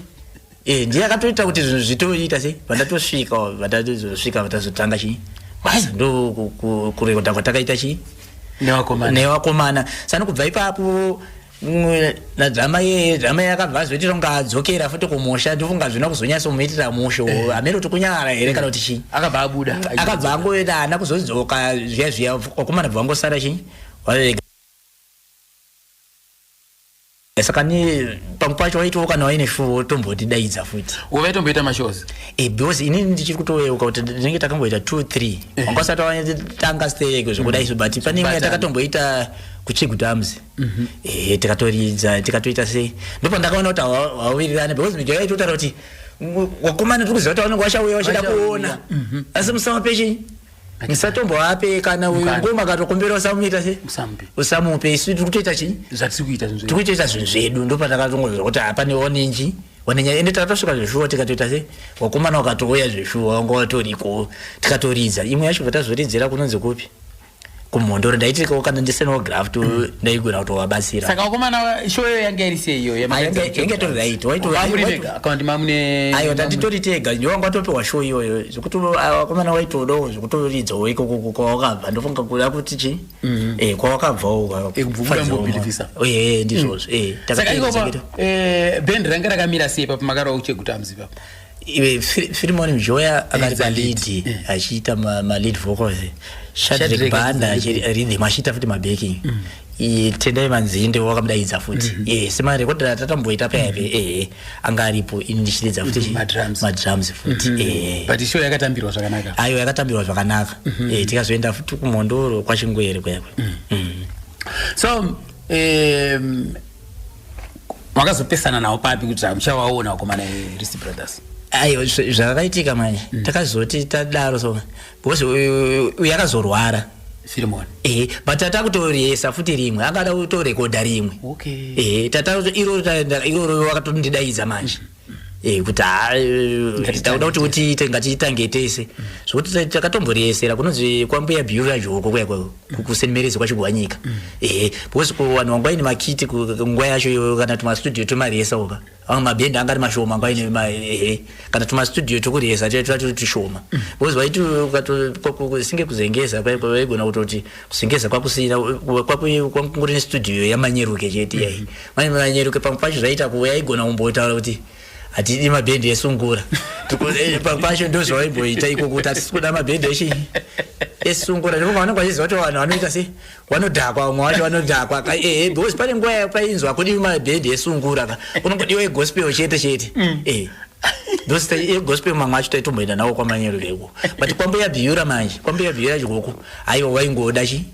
eh ndiye akatoita kuti zvinhu zvitoita sei vandatosvika vandatozosvika vatazotanga chii basa ndo kurekodha kwatakaita chii newakomana newakomana sani kubva ipapo mm, nadzama ye dzama yakabva azoitira kunga adzokera futi kumusha ndofunga zvina kuzonyasa kumuitira musho eh. hameno kuti kunyara here kana kuti chii akabva abuda akabva angoenda ana kuzodzoka zviya zviya wakomana bva wangosara chii waega saka ne pamwe pacho waitowo kana waine show wotombotidaidza futi uve tomboita mashows e, because ini ndichiri kutoyeuka kuti tinenge takamboita two three eh. wanga usati watanga stereko zvekuda izvo but pane imwe yatakatomboita kuchigudams mhm. e, tikatoridza tikatoita sei ndopandakaona kuti hawawirirane because mijo yaitotaura kuti wakomana tiri kuziva kuti vanenge vachauya vachida kuona mhm. asi musama pechenyi musatombovape kana uyu Mukana. ngoma akatokumbira usamuita se musamupe usamupe isu tiri kutoita chii zvatiri kuita zvinhu tiri zvedu kutoita zvinhu zvedu ndopatakatongonzwa kuti hapane wanenji wanenya ende takatosvika zveshuwa tikatoita se wakomana wakatouya zveshuwa wanga watoriko tikatoridza imwe yacho vatazoridzira kunonzi kupi kumhondoro ndaitirikawo kana ndisenawo graft mm. ndaigona kutovabatsira saka vakomana show yo yanga iri sei iyoyo yanga tori right waitoakaundi mamune ayo tanditori tega ndio wanga watopiwa show iyoyo zvekuti vakomana waitodawo zvekutoridzawo ikoko kwawakabva ndofunga kuda kuti chi mm-hmm. eh, kwawakabvawo ndizvozvo mm. eh, saka ikoko eh, band ranga rakamira sei papo makarova kuchegutamzi papo firimoni mjoya akati palidi eh. achiita malead vocals shadrik banda achiridhim achiita futi mabaking mm. tendai manzinde wakamudaidza futi mm-hmm. eh, semarekodi atatamboita payave mm-hmm. ehe eh, anga aripo ini ndichiridza futi mm-hmm. madrums futi ehebutshow yakatambirwa zvakanaka ayo yakatambirwa zvakanaka tikazoenda futi kumhondoro kwachingwere kwekwe mm. so um, makazopesana nawo papi kuti muchawaona vakomana verist brothers aiwa zvakaitika manje mm. takazoti tadaro so because uyu akazorwara firimoni ehe but tata kutoresa futi rimwe akada kutorekodha rimwe okay ehe tata iroro iroro wakatondidaidza manje mm. Eh, kuti ah, eh, takuda kuti utiite ngatitange tese zvokuti takatomboresera kunonzi kwambuya bhiyu vazvoko kuya kusenmerezi kwachigwanyika mm. ehe eh, because vanhu vangwai nemakiti nguva yacho kana tumastudio tumaresa oka amwe mabhendi anga ari mashoma nguva ine ehe kana tumastudio tukuresa tuya tuva turi tushoma mm. because vaiti singe kuzengeza kwaigona kutoti kusingeza kwakusina kwakungori nestudio yamanyeruke chete yai mhm. manje manyeruke pamwe pacho zvaita kuva yaigona kumbotaura kuti hatidi mabhendi esungura eh, pamwe pacho ndozvawaimboita iko kuti hatisi kuda mabhendi eshe esungura ndipo pavanenge vachiziva kuti vanhu vanoita se vanodhakwa vamwe vacho vanodhakwa ehe eh, eh, because pane nguva painzwa hakudiwi mabhendi esungura ka unongodiwa egospel chete chete mm. ehe ndosi egospel mamwe acho taitomboenda nawo kwamanyerukeko but kwamboya bhiura manje kwamboya bhiura chikoko Aiwa waingoda chi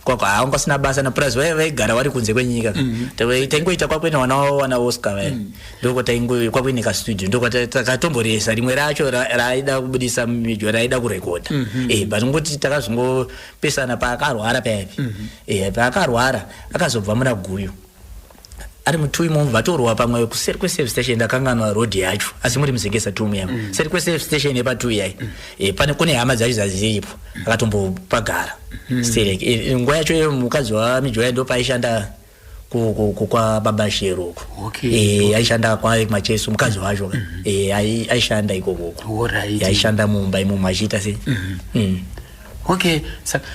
kwako haa wanga usina basa na plus vaiva vaigara wari kunze kwenyika ka mm-hmm. Tave- taingoita kwakuina vana wavo vana oscar vaya Mm. ndoko taingo kwakuine ka studio ndoko ta- takatomboresa rimwe racho ra- raaida kubudisa midyo raaida kurekodha Mm-hmm. eh but ngoti takazongopesana paakarwara payani Mm-hmm. eh paakarwara akazobva muna guyo ari mutui munhu vatorwa pamwe kuseri kweservice station ndakanganwa road yacho asi muri muzengesa tu muyema mm. seri kweservice station yepatui yai mm. e, pane kune hama dzacho dzaziripo akatombopagara mm. sterek e, eh, eh, nguva yacho iyo mukadzi wamijoya ndo paaishanda kwababa shero uko okay, e, okay. aishanda kwaye kumacheso mukadzi wacho mm -hmm. e, aishanda ikokoko right. aishanda mumba imomo achiita se mm -hmm. mm. okay saka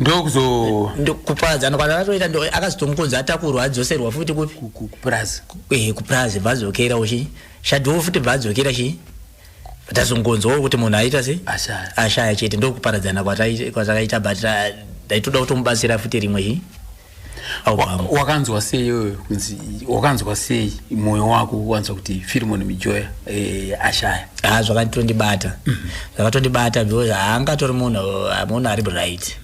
ndokuzo ndokupaza anokwana akatoita ndo akazotomukonza atakurwa adzoserwa futi kupi kupurazi eh kupurazi vazokera uchi shadwo futi vazokera chi tazongonzwa kuti munhu aita se ashaya ashaya chete ndokuparadzana kwatakaita but uh, ndaitoda kutomubatsira futi rimwe chi wakanzwa sei iyoyo kunzi wakanzwa sei mwoyo wako wanzwa kuti firimoni mijoya eh, ashaya ha zvakatondibata mhm. zvakatondibata because haangatori munhu munhu ari bright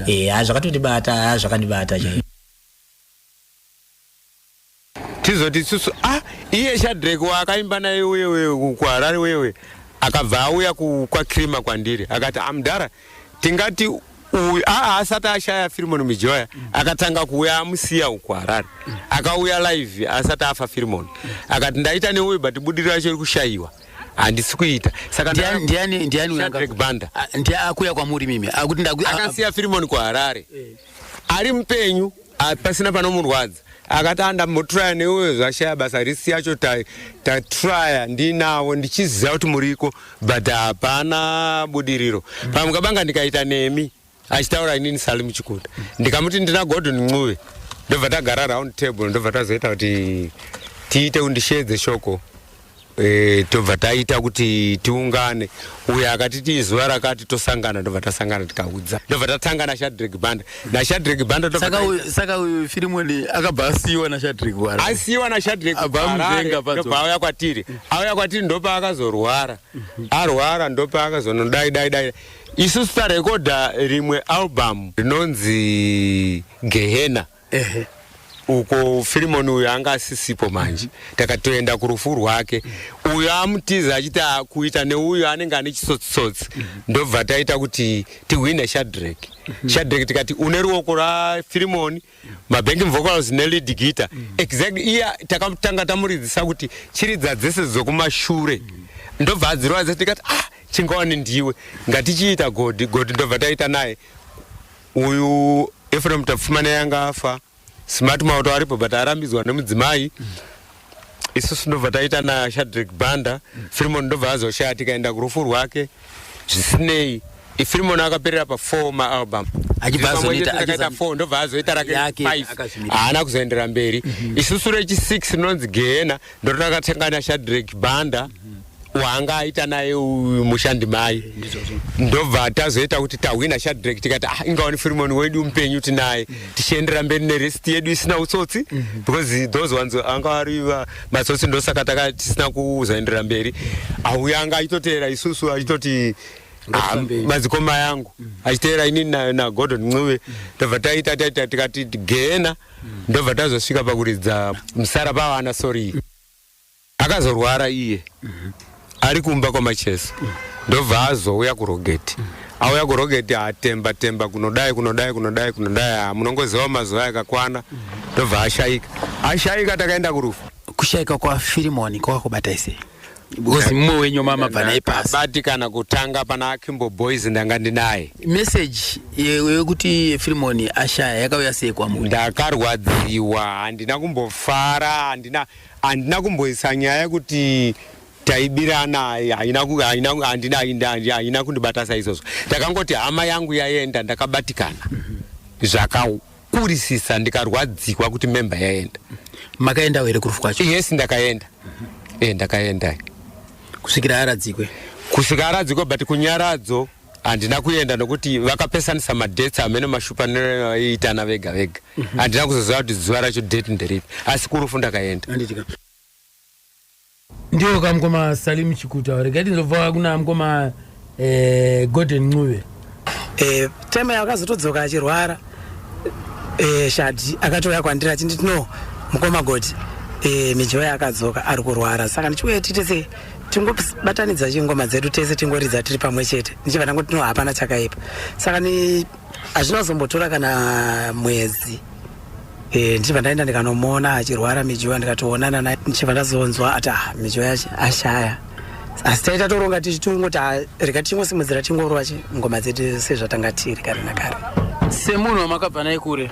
eh, ha zvakatondibata ha zvakandibata chai mm -hmm. tizoti isusu ah iye shadrek waakaimba naye uyewe kuharare wewe akabva auya kwakrima kwandiri akati amdara ah, tingati uyu aa asati ashaya firimoni mujoya akatanga kuuya amusiya uku harare akauya live asati afa firimoni akati ndaita neuyu but budiriro yacho iri kushayiwa handisi kuita sakabanda ah, ndiye akuya kwamuri mimi akasiya firimoni kuharare eh. ari mupenyu ah, pasina panomurwadza akati andambotraya neuyo zvashaya basa risi yacho tatraya ndinavo ndichiziva kuti muriko but hapana budiriro pamwe kabanga ndikaita nemi achitaura inini sali muchikunda ndikamuti ndina gordon ncuve ndobva tagara round table ndobva tazoita kuti tiite undishedze shoko e, tobva taita kuti tiungane uyo akati tii zuva rakati tosangana tobva tasangana tikaudza tobva tatanga nashadrek banda nashadrek banda saka uyu firimoni akabva asiyiwa nashadrek wara asiyiwa nashadrek ndobva auya kwatiri auya kwatiri ndopaakazorwara arwara ndopaakazonodai dai dai isusu tarekodha rimwe album rinonzi gehena ehe uko firimoni uyo anga asisipo manje takatoenda kurufu rwake uyo amutiza achiti kuita neuyo anenge ane chitsotsitsotsi ndobva taita kuti tihwine shadrek shadrek tikati une ruoko rafirimoni mabhengi mvokals nelid gita exactly iye takatanga tamuridzisa kuti chiridza dzese dzokumashure ndobva adziroadza tikati ah chingawani ndiwe ngatichiita godhi godhi ndobva taita naye uyu efrem tapfumana yanga afa smart mauto aripo but arambidzwa nemudzimai mm. isusu ndobva taita nashadrik banda mm. firimon ndobva azoshaya tikaenda kurufu rwake zvisinei ifirimon akaperera pafour maalbum achibvaakaita four ndobva azoita rake five haana kuzoendera mberi mm -hmm. isusu rechisic rinonzi gehena ndototakatanga nashadrik banda mm -hmm. waanga aita naye uyu mushandi mai ndobva tazoita kuti tahwina shadrek tikati ah, ingawani firimoni wedu mupenyu tinaye mm. tichiendera mberi nerest yedu isina utsotsi mm. because those ones anga ari matsotsi ndosaka taka tisina kuzoendera mberi auya anga aitoteera isusu achitoti ah, madzikoma yangu mm. achiteera inini nagordon na ncube mm. ndobva taita taita tikati gena mm. ndobva tazosvika pakuridza msara pavana sorry mm. Akazorwara iye ari kumba kwaMacheso ndobva azouya kurogeti auya kurogeti atemba temba kunodai kunodai kunodai kunodai ah, munongoziva mazuva akakwana ndobva ashaika ashaika takaenda kurufu kushaika kwafirimoni kwakakubata sei because mumwe wenyu mamabva naye pasi batikana kutanga pana akimbo boys ndanga ndinaye message ye- yekuti firimoni ashaya yakauya sei kwamuri ndakarwadziwa handina kumbofara handina Handina kumboisa nyaya yekuti taibirana haina ku- haina ku- handina haina- haina- haina kundibata saizvozvo ndakangoti hama yangu yaenda ndakabatikana zvakakurisisa ndikarwadzikwa kuti memba yaenda makaendawo here kurufu kwacho yes ndakaenda e ndakaenda kusvikira aradzikwe kusvika aradzikwa but kunyaradzo handina kuenda nokuti vakapesanisa madates amene mashupaniro aiitana vega vega mhm. handina kuzoziva kuti zuva racho date nderipi asi kurufu ndakaenda ndiwo ka mukoma salim chikuta regai tinzobva kuna mukoma eh, golden ncube eh, time yakazotodzoka achirwara eh, shadi akatouya kwandiri achinditi no mukoma goti mijoya akadzoka ari kurwara saka ndichiuya tiite sei tingobatanidza chingoma dzedu tese tingoridza tiri pamwe chete ndichibva ndangoti no hapana chakaipa saka ni hazvina kuzombotora kana mwedzi e, ndichibva ndaenda ndikanomuona achirwara mijoya ndikatoonana naye ndichibva ndazonzwa ati ah, mijoya ashaya asi taita toronga tichitongoti ah, rega tichingosimudzira tingorova ngoma dzedu sezvatanga tiri kare nakare semunhu wamakabva naye kure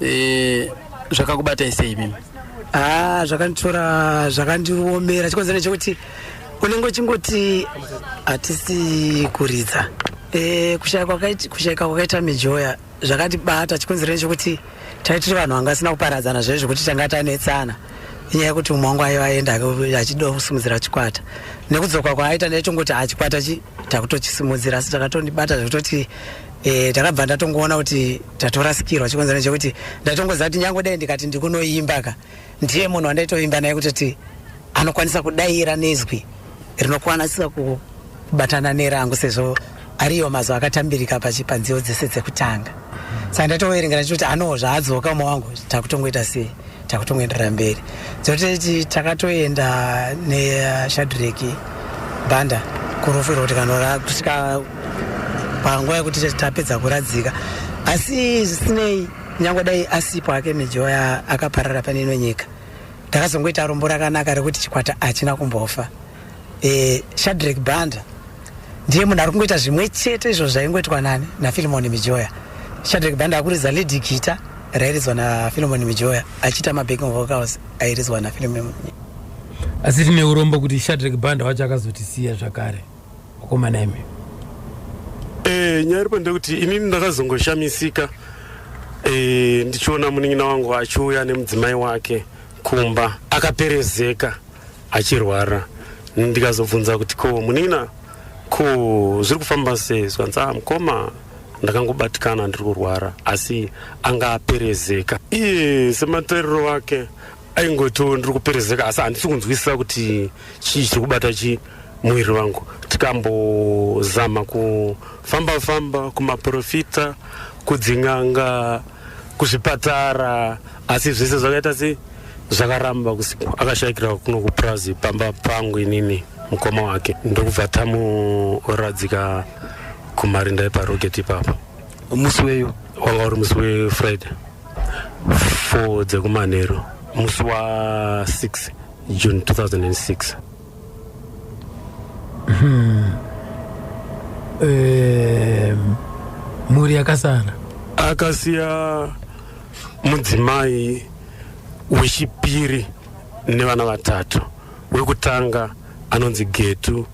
e, zvakakubatai sei mimi haa ah, zvakanditora zvakandiomera chikonzero nechekuti unenge uchingoti hatisi kuridza e, kushaika kwakaita mijoya zvakatibata chikonzero nechekuti tai tiri vanhu vanga asina kuparadzana zvaizvo kuti tanga tanetsana inyaya yekuti umwe wangu aiva aenda achida kusimudzira chikwata nekudzoka kwaaita ndaitongoti hachikwata chi takutochisumudzira asi takatondibata zvekutoti Eh, ndakabva ndatongoona kuti tatorasikirwa chikonzero chekuti ndatongoziva kuti nyange dai ndikati ndikunoimba ka ndiye munhu wandaitoimba naye kutoti anokwanisa kudaira nezwi rinokwanisa kubatana nerangu sezvo ariyo mazwi akatambirika pachipanziyo dzese dzekutanga saka ndatoverengera chikuti anoo zvaadzoka uma wangu takutongoita sei takutongoenderera mberi dzoteti takatoenda neshadreki banda kurufu iroti kanora kusvika panguva yekuti tapedza kuradzika asi zvisinei nyange dai asipo ake mijoya akaparara pane ino nyika takazongoita rombo rakanaka rekuti chikwata hachina kumbofa eh, shadrek banda ndiye munhu ari kungoita zvimwe chete izvo zvaingoitwa nani nafilimoni mijoya shadrek banda akuridza lady gita rairidzwa nafilimoni mijoya achiita mabacking vocals airidzwa nafilimoni asi tine urombo kuti shadrek banda wacho akazotisiya zvakare wakomana imi e, nyaya iripo ndekuti inini ndakazongoshamisika e, ndichiona munin'ina wangu achiuya nemudzimai wake kumba akaperezeka achirwara ndikazobvunza kuti ko munina ko zviri kufamba sei zvanzi ah mukoma ndakangobatikana ndiri kurwara asi anga aperezeka iye sematariro wake aingotiwo ndiri kuperezeka asi handisi kunzwisisa kuti chii chiri kubata chii muviri wangu tikambozama kufamba famba kumaprofita kudzin'anga kuzvipatara asi zvese zvakaita sei zvakaramba kusikwa akashayikira kuno kupurazi pamba pangu inini mukoma wake ndokubva tamuradzika kumarinda eparoketi ipapo musi weyo wanga uri musi wefriday four dzekumanheru musi wa6 june 2006 hmm. mhuri yakasara akasiya Mudzimai wechipiri nevana vatatu, wekutanga anonzi Getu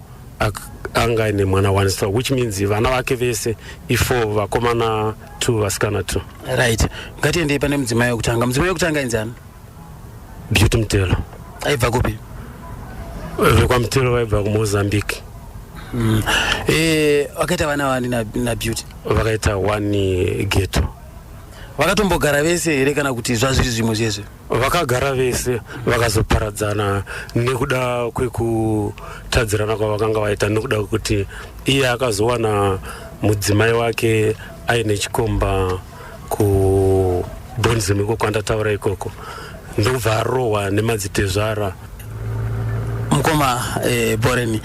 anga aine mwana one so which means vana vake vese ifour vakomana two vasikana two. Right, ngatiendei pane mudzimai wekutanga. Mudzimai wekutanga ainzi ani? Beauty Mtelo. Aibva kupi? VekwaMtelo vaibva kuMozambique. Mm. Eh, vakaita vana vani na, na Beauty? Vakaita one Getu. Vakatombogara vese here kana kuti zvazviri zvimwe zvezve? Vakagara vese vakazoparadzana nekuda kwekutadzirana kwavakanga vaita nekuda kwekuti iye akazowana mudzimai wake aine chikomba kubonzim iko kwandataura ikoko ndokubva arohwa nemadzitezvara mukoma eh, boreni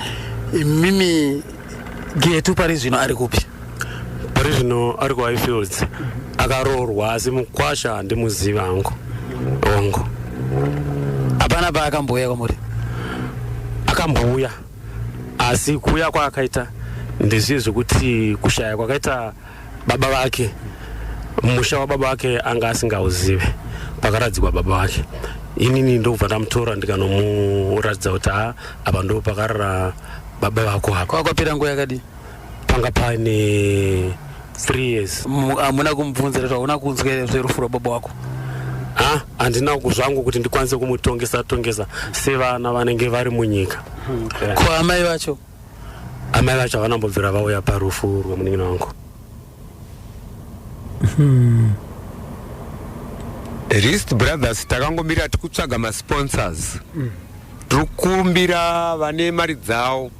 imimi Getu pari zvino ari kupi? Pari zvino ari kuHighfields akaroorwa asi mukwasha handimuzivi hangu hongu. Hapana paakambouya kwamuri? Akambouya asi kuuya kwaakaita ndezviye zvekuti kushaya kwakaita baba vake musha wababa vake anga asingauzive pakaradzikwa baba vake inini ndokubva ndamutora ndikanomuratidza kuti ha apa ndo pakarara baba vako hako kwakwapera nguva yakadii panga pane three years hamuna kumubvunza rezvo hauna kunzwa here zverufu rwababa wako ha handina zvangu kuti ndikwanise kumutongesa tongesa sevana vanenge vari munyika ko amai vacho amai vacho havana mbobvira vauya parufu rwemunin'ina wangu hmm. rist brothers takangomira tikutsvaga masponsors mm. tiri kumbira vane mari dzavo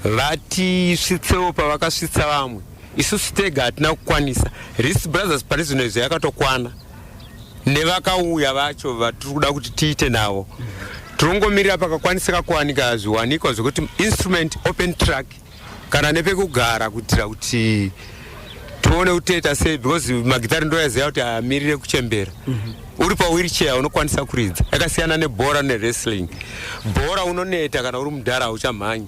vatisvitsewo pavakasvitsa vamwe isusu tega hatina kukwanisa rist brothers pane zvino izvo yakatokwana nevakauya vacho vatiri kuda kuti tiite navo tirongomirira pakakwanisika kuwanika zviwanikwa zvekuti instrument open track kana nepekugara kuitira kuti tione kuti toita sei because magitari ndoyaziva kuti amirire kuchembera mhm. uri pawheelchair unokwanisa kuridza yakasiyana nebhora newrestling bhora unoneta kana uri mudhara hauchamhanyi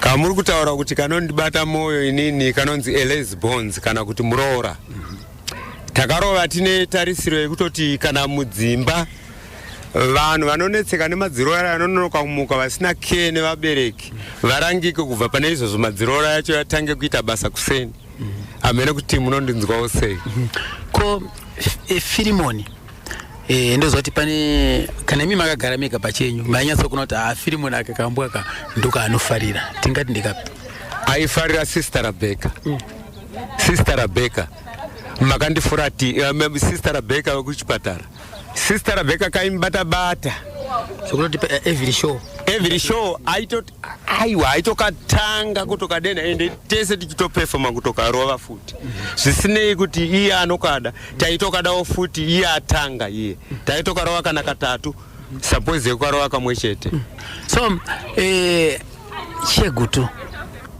kamuri kutaura kuti kanondibata mwoyo inini kanonzi eles bones kana kuti muroora takarova tine tarisiro yekutoti kana mudzimba vanhu vanonetseka nemadziroora anononoka kumuka vasina care nevabereki varangike kubva pane izvozvo madziroora yacho yatange kuita basa kuseni hamene kuti munondinzwawo sei ko e, firimoni Eh, ndozoti pane kana imi makagara mega pachenyu mainyatso kuona kuti haafiri munhu ake kambwa ka ndoka anofarira tingati ndikapi aifarira sister rabeka mm. sister rabeka makandifurati um, eh, sister rabeka wekuchipatara sister rabeka kaimubata bata sokunoti eh, every show every show aitoti aiwa aitokatanga kutokadenha ende tese tichitopefoma kutokarova futi zvisinei kuti iye anokada taitokadawo futi iye atanga iye taitokarova kana katatu suppose yekukarova kamwe chete so eh, chegutu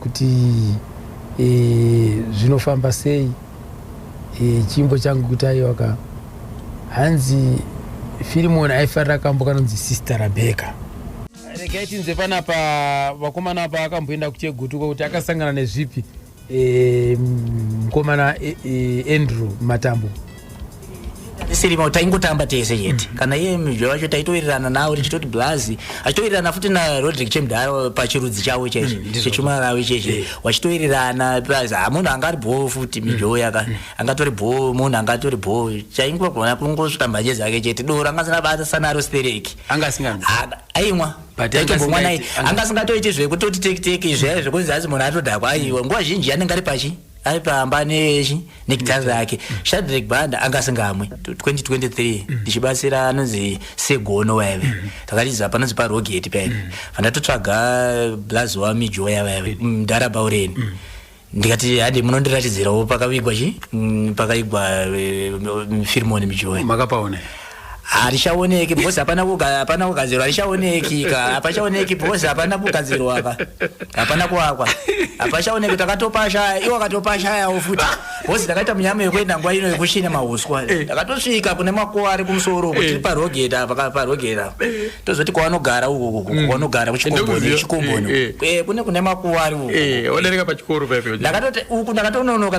kuti e, zvinofamba sei e, chimbo changu kuti aiwaka hanzi firimoni aifarira kambo kanonzi sista rabheka regai tinze panapa vakomana apa akamboenda kuchegutuka kuti akasangana nezvipi e, mkomana e, e, andrew matambo sirima taingotamba tese chete mm. kana iye mjo wacho taitowirirana nawo tichitoti blazi achitowirirana futi narodrick chemdhara pachirudzi chavo chese mm, chechuma ravo chese wachitowirirana plus hamunhu ah, anga ari bhoo futi mm. mjo yaka angatori bhoo munhu angatori bhoo chaingogona kungosvika mbanje dzake chete doro anga asina basa sanaro stereki anga asinga aimwa taitombomwa naye anga asingatoiti zvekutoti tekiteki izvee zvekunzi asi munhu atodhakwa aiwa nguva zhinji anenge ari pachi ari pamba negitar rake shadrek banda anga asingamwe 2023 mm. ndichibatsira anonzi segono waive mm. takatiza panonzi parogeti paine mm. vandatotsvaga blaz wamijoya vaive mdhara baureni ndikati hadi munondiratidzirawo pakavigwa chi pakaigwa eh, firmoni mijoya makapaone harichaoneki because hapana hapana kugadzirwa harichaoneki ka hapachaoneki because hapana kugadzirwa ka hapana kuwakwa hapachaoneki takatopashaya iwo akatopashayawo futi because takaita munyama yekuenda nguva ino yekushina mahuswa eh. takatosvika kune makuva ari kumusoro kuti eh. parogeta parogeta eh. tozoti kwavanogara uku mm. kwavanogara kuchikomboni chikomboni kune kune makuva ari uku ndakatoti uku ndakatononoka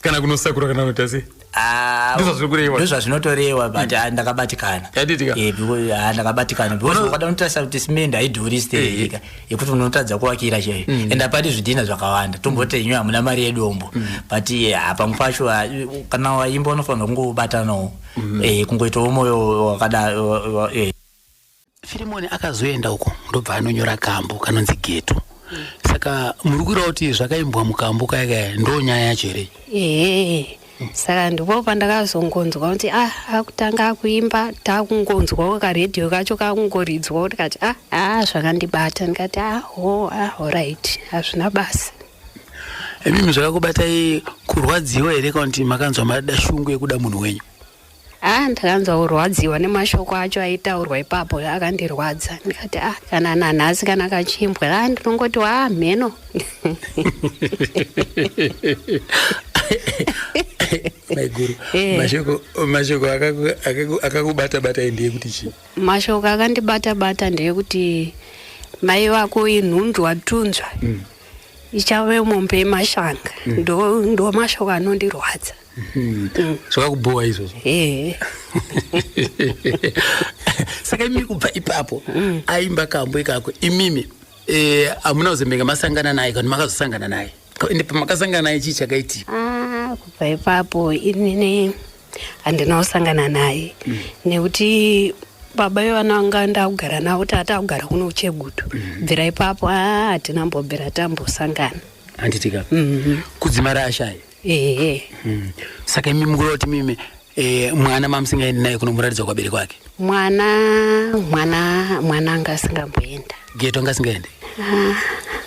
kana kunosakura kana kunoita sei ah, ndozvazvinotorewa but mm. ndakabatikana eh, ah, ndakabatikana because ukada unotarisa kuti simendi haidhuri steika eh, eh. yekuti unotadza kuvakira chaiyo mm. and apati zvidhina zvakawanda tomboti mm. inyu hamuna mari yedombo but ah, pamwe pacho kana waimba unofanira kungobatanawo kungoitawo moyo wakadaro firimoni akazoenda uko ndobva anonyora kambo kanonzi geto saka muri kuira kuti zvakaimbwa mukambo kaya kaya ndo nyaya yacho here ehe saka ndipo pandakazongonzwa kuti ah akutanga akuimba takungonzwawo karedhiyo kacho kakungoridzwa kuti kati ah ah zvakandibata ndikati ah ho ah horit hazvina basa imimi zvakakubatai kurwadziwa here kana kuti makanzwa mada shungu yekuda munhu wenyu Ah, ndakanzwa kurwadziwa nemashoko acho aitaurwa ipapo akandirwadza ndikati ah, kana nanhasi kana kachimbwa ah, ndinongoti waa mheno maiguru eh. mashoko mashoko akakubata bata ndiye kuti chii mashoko akandibata bata ndiye kuti mai vako inhundu watunzwa mm. ichave mombe yemashanga mm. ndo mashoko anondirwadza Hmm. zvakakubhowa izvozvo saka imimi kubva ipapo hmm. aimba kambo ikako imimi eh, hamuna kuzembenge masangana naye kana makazosangana naye ende pamakasangana naye chii chakaitika ah, kubva ipapo inini handina kusangana naye hmm. nekuti baba vevana vanga ndakugara navo tata kugara kuno uchegutu bvira ipapo ah, hatina mbobvira tambosangana handitika kudzimara ashaye ehe mm. saka imi mukuda kuti mimi e, mwana mamusingaendi naye kunomuratidza kwabere kwake mwana mwana mwana anga asingamboenda geto anga asingaendi ah,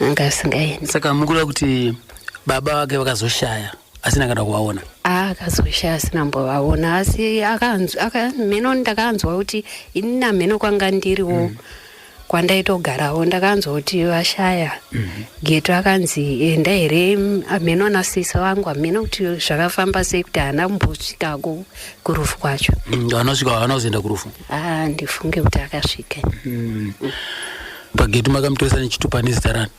anga asingaendi saka mukuda kuti baba vake vakazoshaya asina kana kuvaona ah, akazoshaya asina mbovaona asi akanzwa mheno ndakanzwa kuti ini namheno kwanga ndiriwo mm. kwandaitogarawo ndakanzoti vashaya mhm. geto akanzi enda here hameno ana sisi vangu hameno kuti zvakafamba sei kuti haana kumbosvikako kurufu kwacho mm, anosvika haana kuzoenda kurufu a ah, ndifunge kuti akasvika mm. pageto makamutoresa nechitupa nezita rani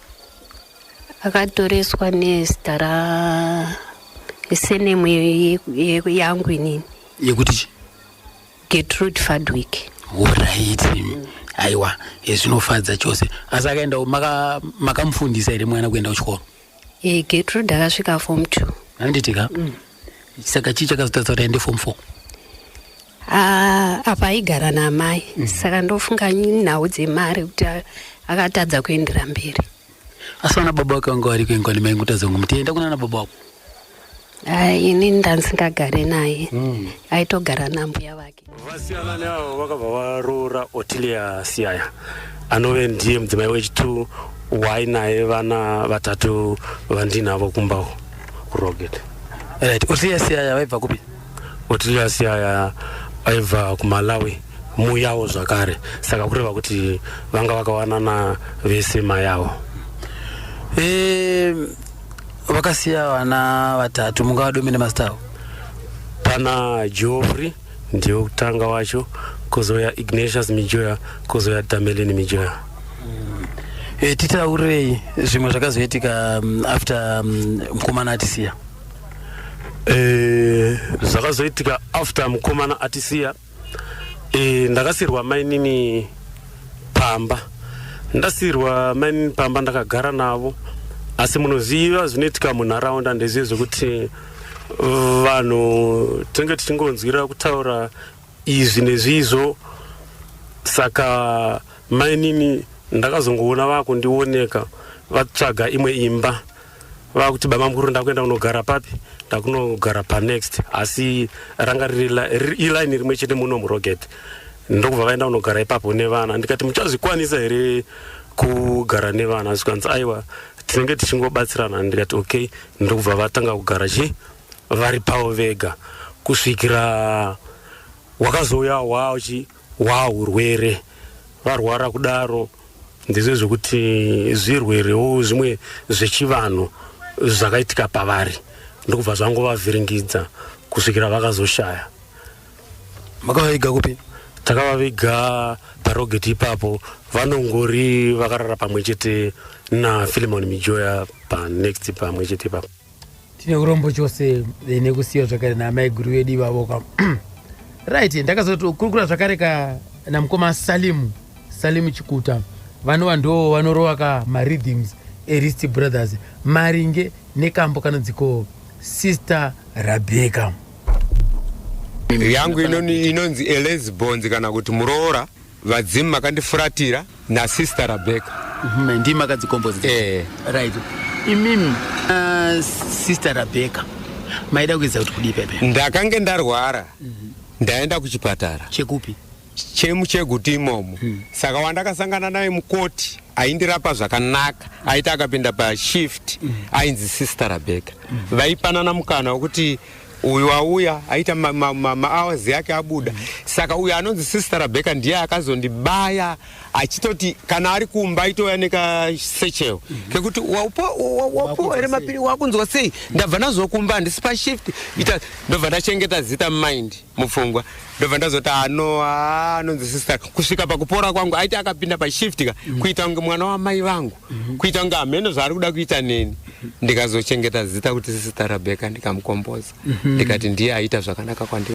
akatoreswa nezita ra senemu yangu inini yekuti chi getrude fadwick uraiti mm. aiwa zvinofadza chose asi akaenda makamufundisa maka here mwana kuenda kuchikoro e, getrude akasvika form two anditika mm. saka chii chakazotadza kuti aende form four ah, apa aigara naamai mm. saka ndofunga nhau dzemari kuti akatadza kuendera mberi asi vana baba vake vanga variko ingwani maingotadza kunge mutienda kuna ana baba wako ai ini ndanzingagare naye mm. aitogara nambuya vake vasiyanani avo vakabva varoora otilia siyaya anove ndiye mudzimai wechitu wainaye vana vatatu vandinavo kumbawo kuroget right otilia siyaya vaibva kupi Otillius aya aibva kumalawi muyawo zvakare saka kureva kuti vanga vakawanana vese mayawo ehm, vakasiya vana vatatu mungawadomene mazita avo pana geoffrey ndiwo kutanga wacho kuzouya ignatius mijoya kuzouya damelin mijoya mm. e, titaurei zvimwe zvakazoitika mm, after mm, mukomana atisiya eh, zvakazoitika after mukomana atisiya eh, ndakasirwa mainini pamba ndasirwa mainini pamba ndakagara navo asi munoziva zvinoitika munharaunda ndezive zvekuti vanhu tinenge tichingonzwira kutaura izvi nezvizvo saka mainini ndakazongoona vakundioneka vatsvaga imwe imba vakuti bamamukuru ndakuenda kunogara papi ndakunogara panext asi ranga riri ilaini rimwe chete muno muroget ndokubva vaenda kunogara ipapo nevana ndikati muchazvikwanisa here kugara nevana zvikanzi aiwa tinenge tichingobatsirana ndikati okay ndokubva vatanga kugara chi vari pavo vega kusvikira wakazouya wachi Waa hurwere varwara kudaro ndizvo zvekuti zvirwerewo zvimwe zvechivanhu zvakaitika pavari ndokubva zvangovavhiringidza kusvikira vakazoshaya makavaviga kupi takavaviga parogeti ipapo vanongori vakarara pamwe chete nafilimon mijoya panext pamwe chete ipapo tine urombo chose eh, nekusiya zvakare naamai guru vedu ivavo ka right ndakazokurukura zvakare ka namukoma salimu salimu chikuta vanova ndo vanorova ka maridhims erist brothers maringe nekambo kanonziko sister rabeka yangu inoni- inonzi elesbons kana kuti muroora Vadzimu makandifuratira nasister Rebecca. Mm, ndimi makadzikomboza. Eh. Right. Imimi uh, sister Rebecca maida kuedza kuti kudii pepe? Ndakange ndarwara. Mm -hmm. Ndaenda kuchipatara. Chekupi? chemucheguti imomo hmm. saka wandakasangana naye mukoti aindirapa zvakanaka aiti akapinda pashift hmm. ainzi sister rebecca hmm. vaipanana mukana wekuti uyu auya aita mahours yake abuda saka uyu anonzi sister rabeka ndiye akazondibaya achitoti kana ari kumba aitouya nekasecheo kekuti wapuwa here mapiri wakunzwa sei ndabva ndazokumba handisi pashift ita ndobva ndachengeta zita mumind mupfungwa ndobva ndazoti ano anonzi sister kusvika pakupora kwangu aiti akapinda pashift ka kuita kunge mwana wamai vangu mhm. kuita kunge hameno zvaari kuda kuita neni ndikazochengeta zita kuti sisita rabheka ndikamukomboza mhm. ndikati ndiye aita zvakanaka kwandiri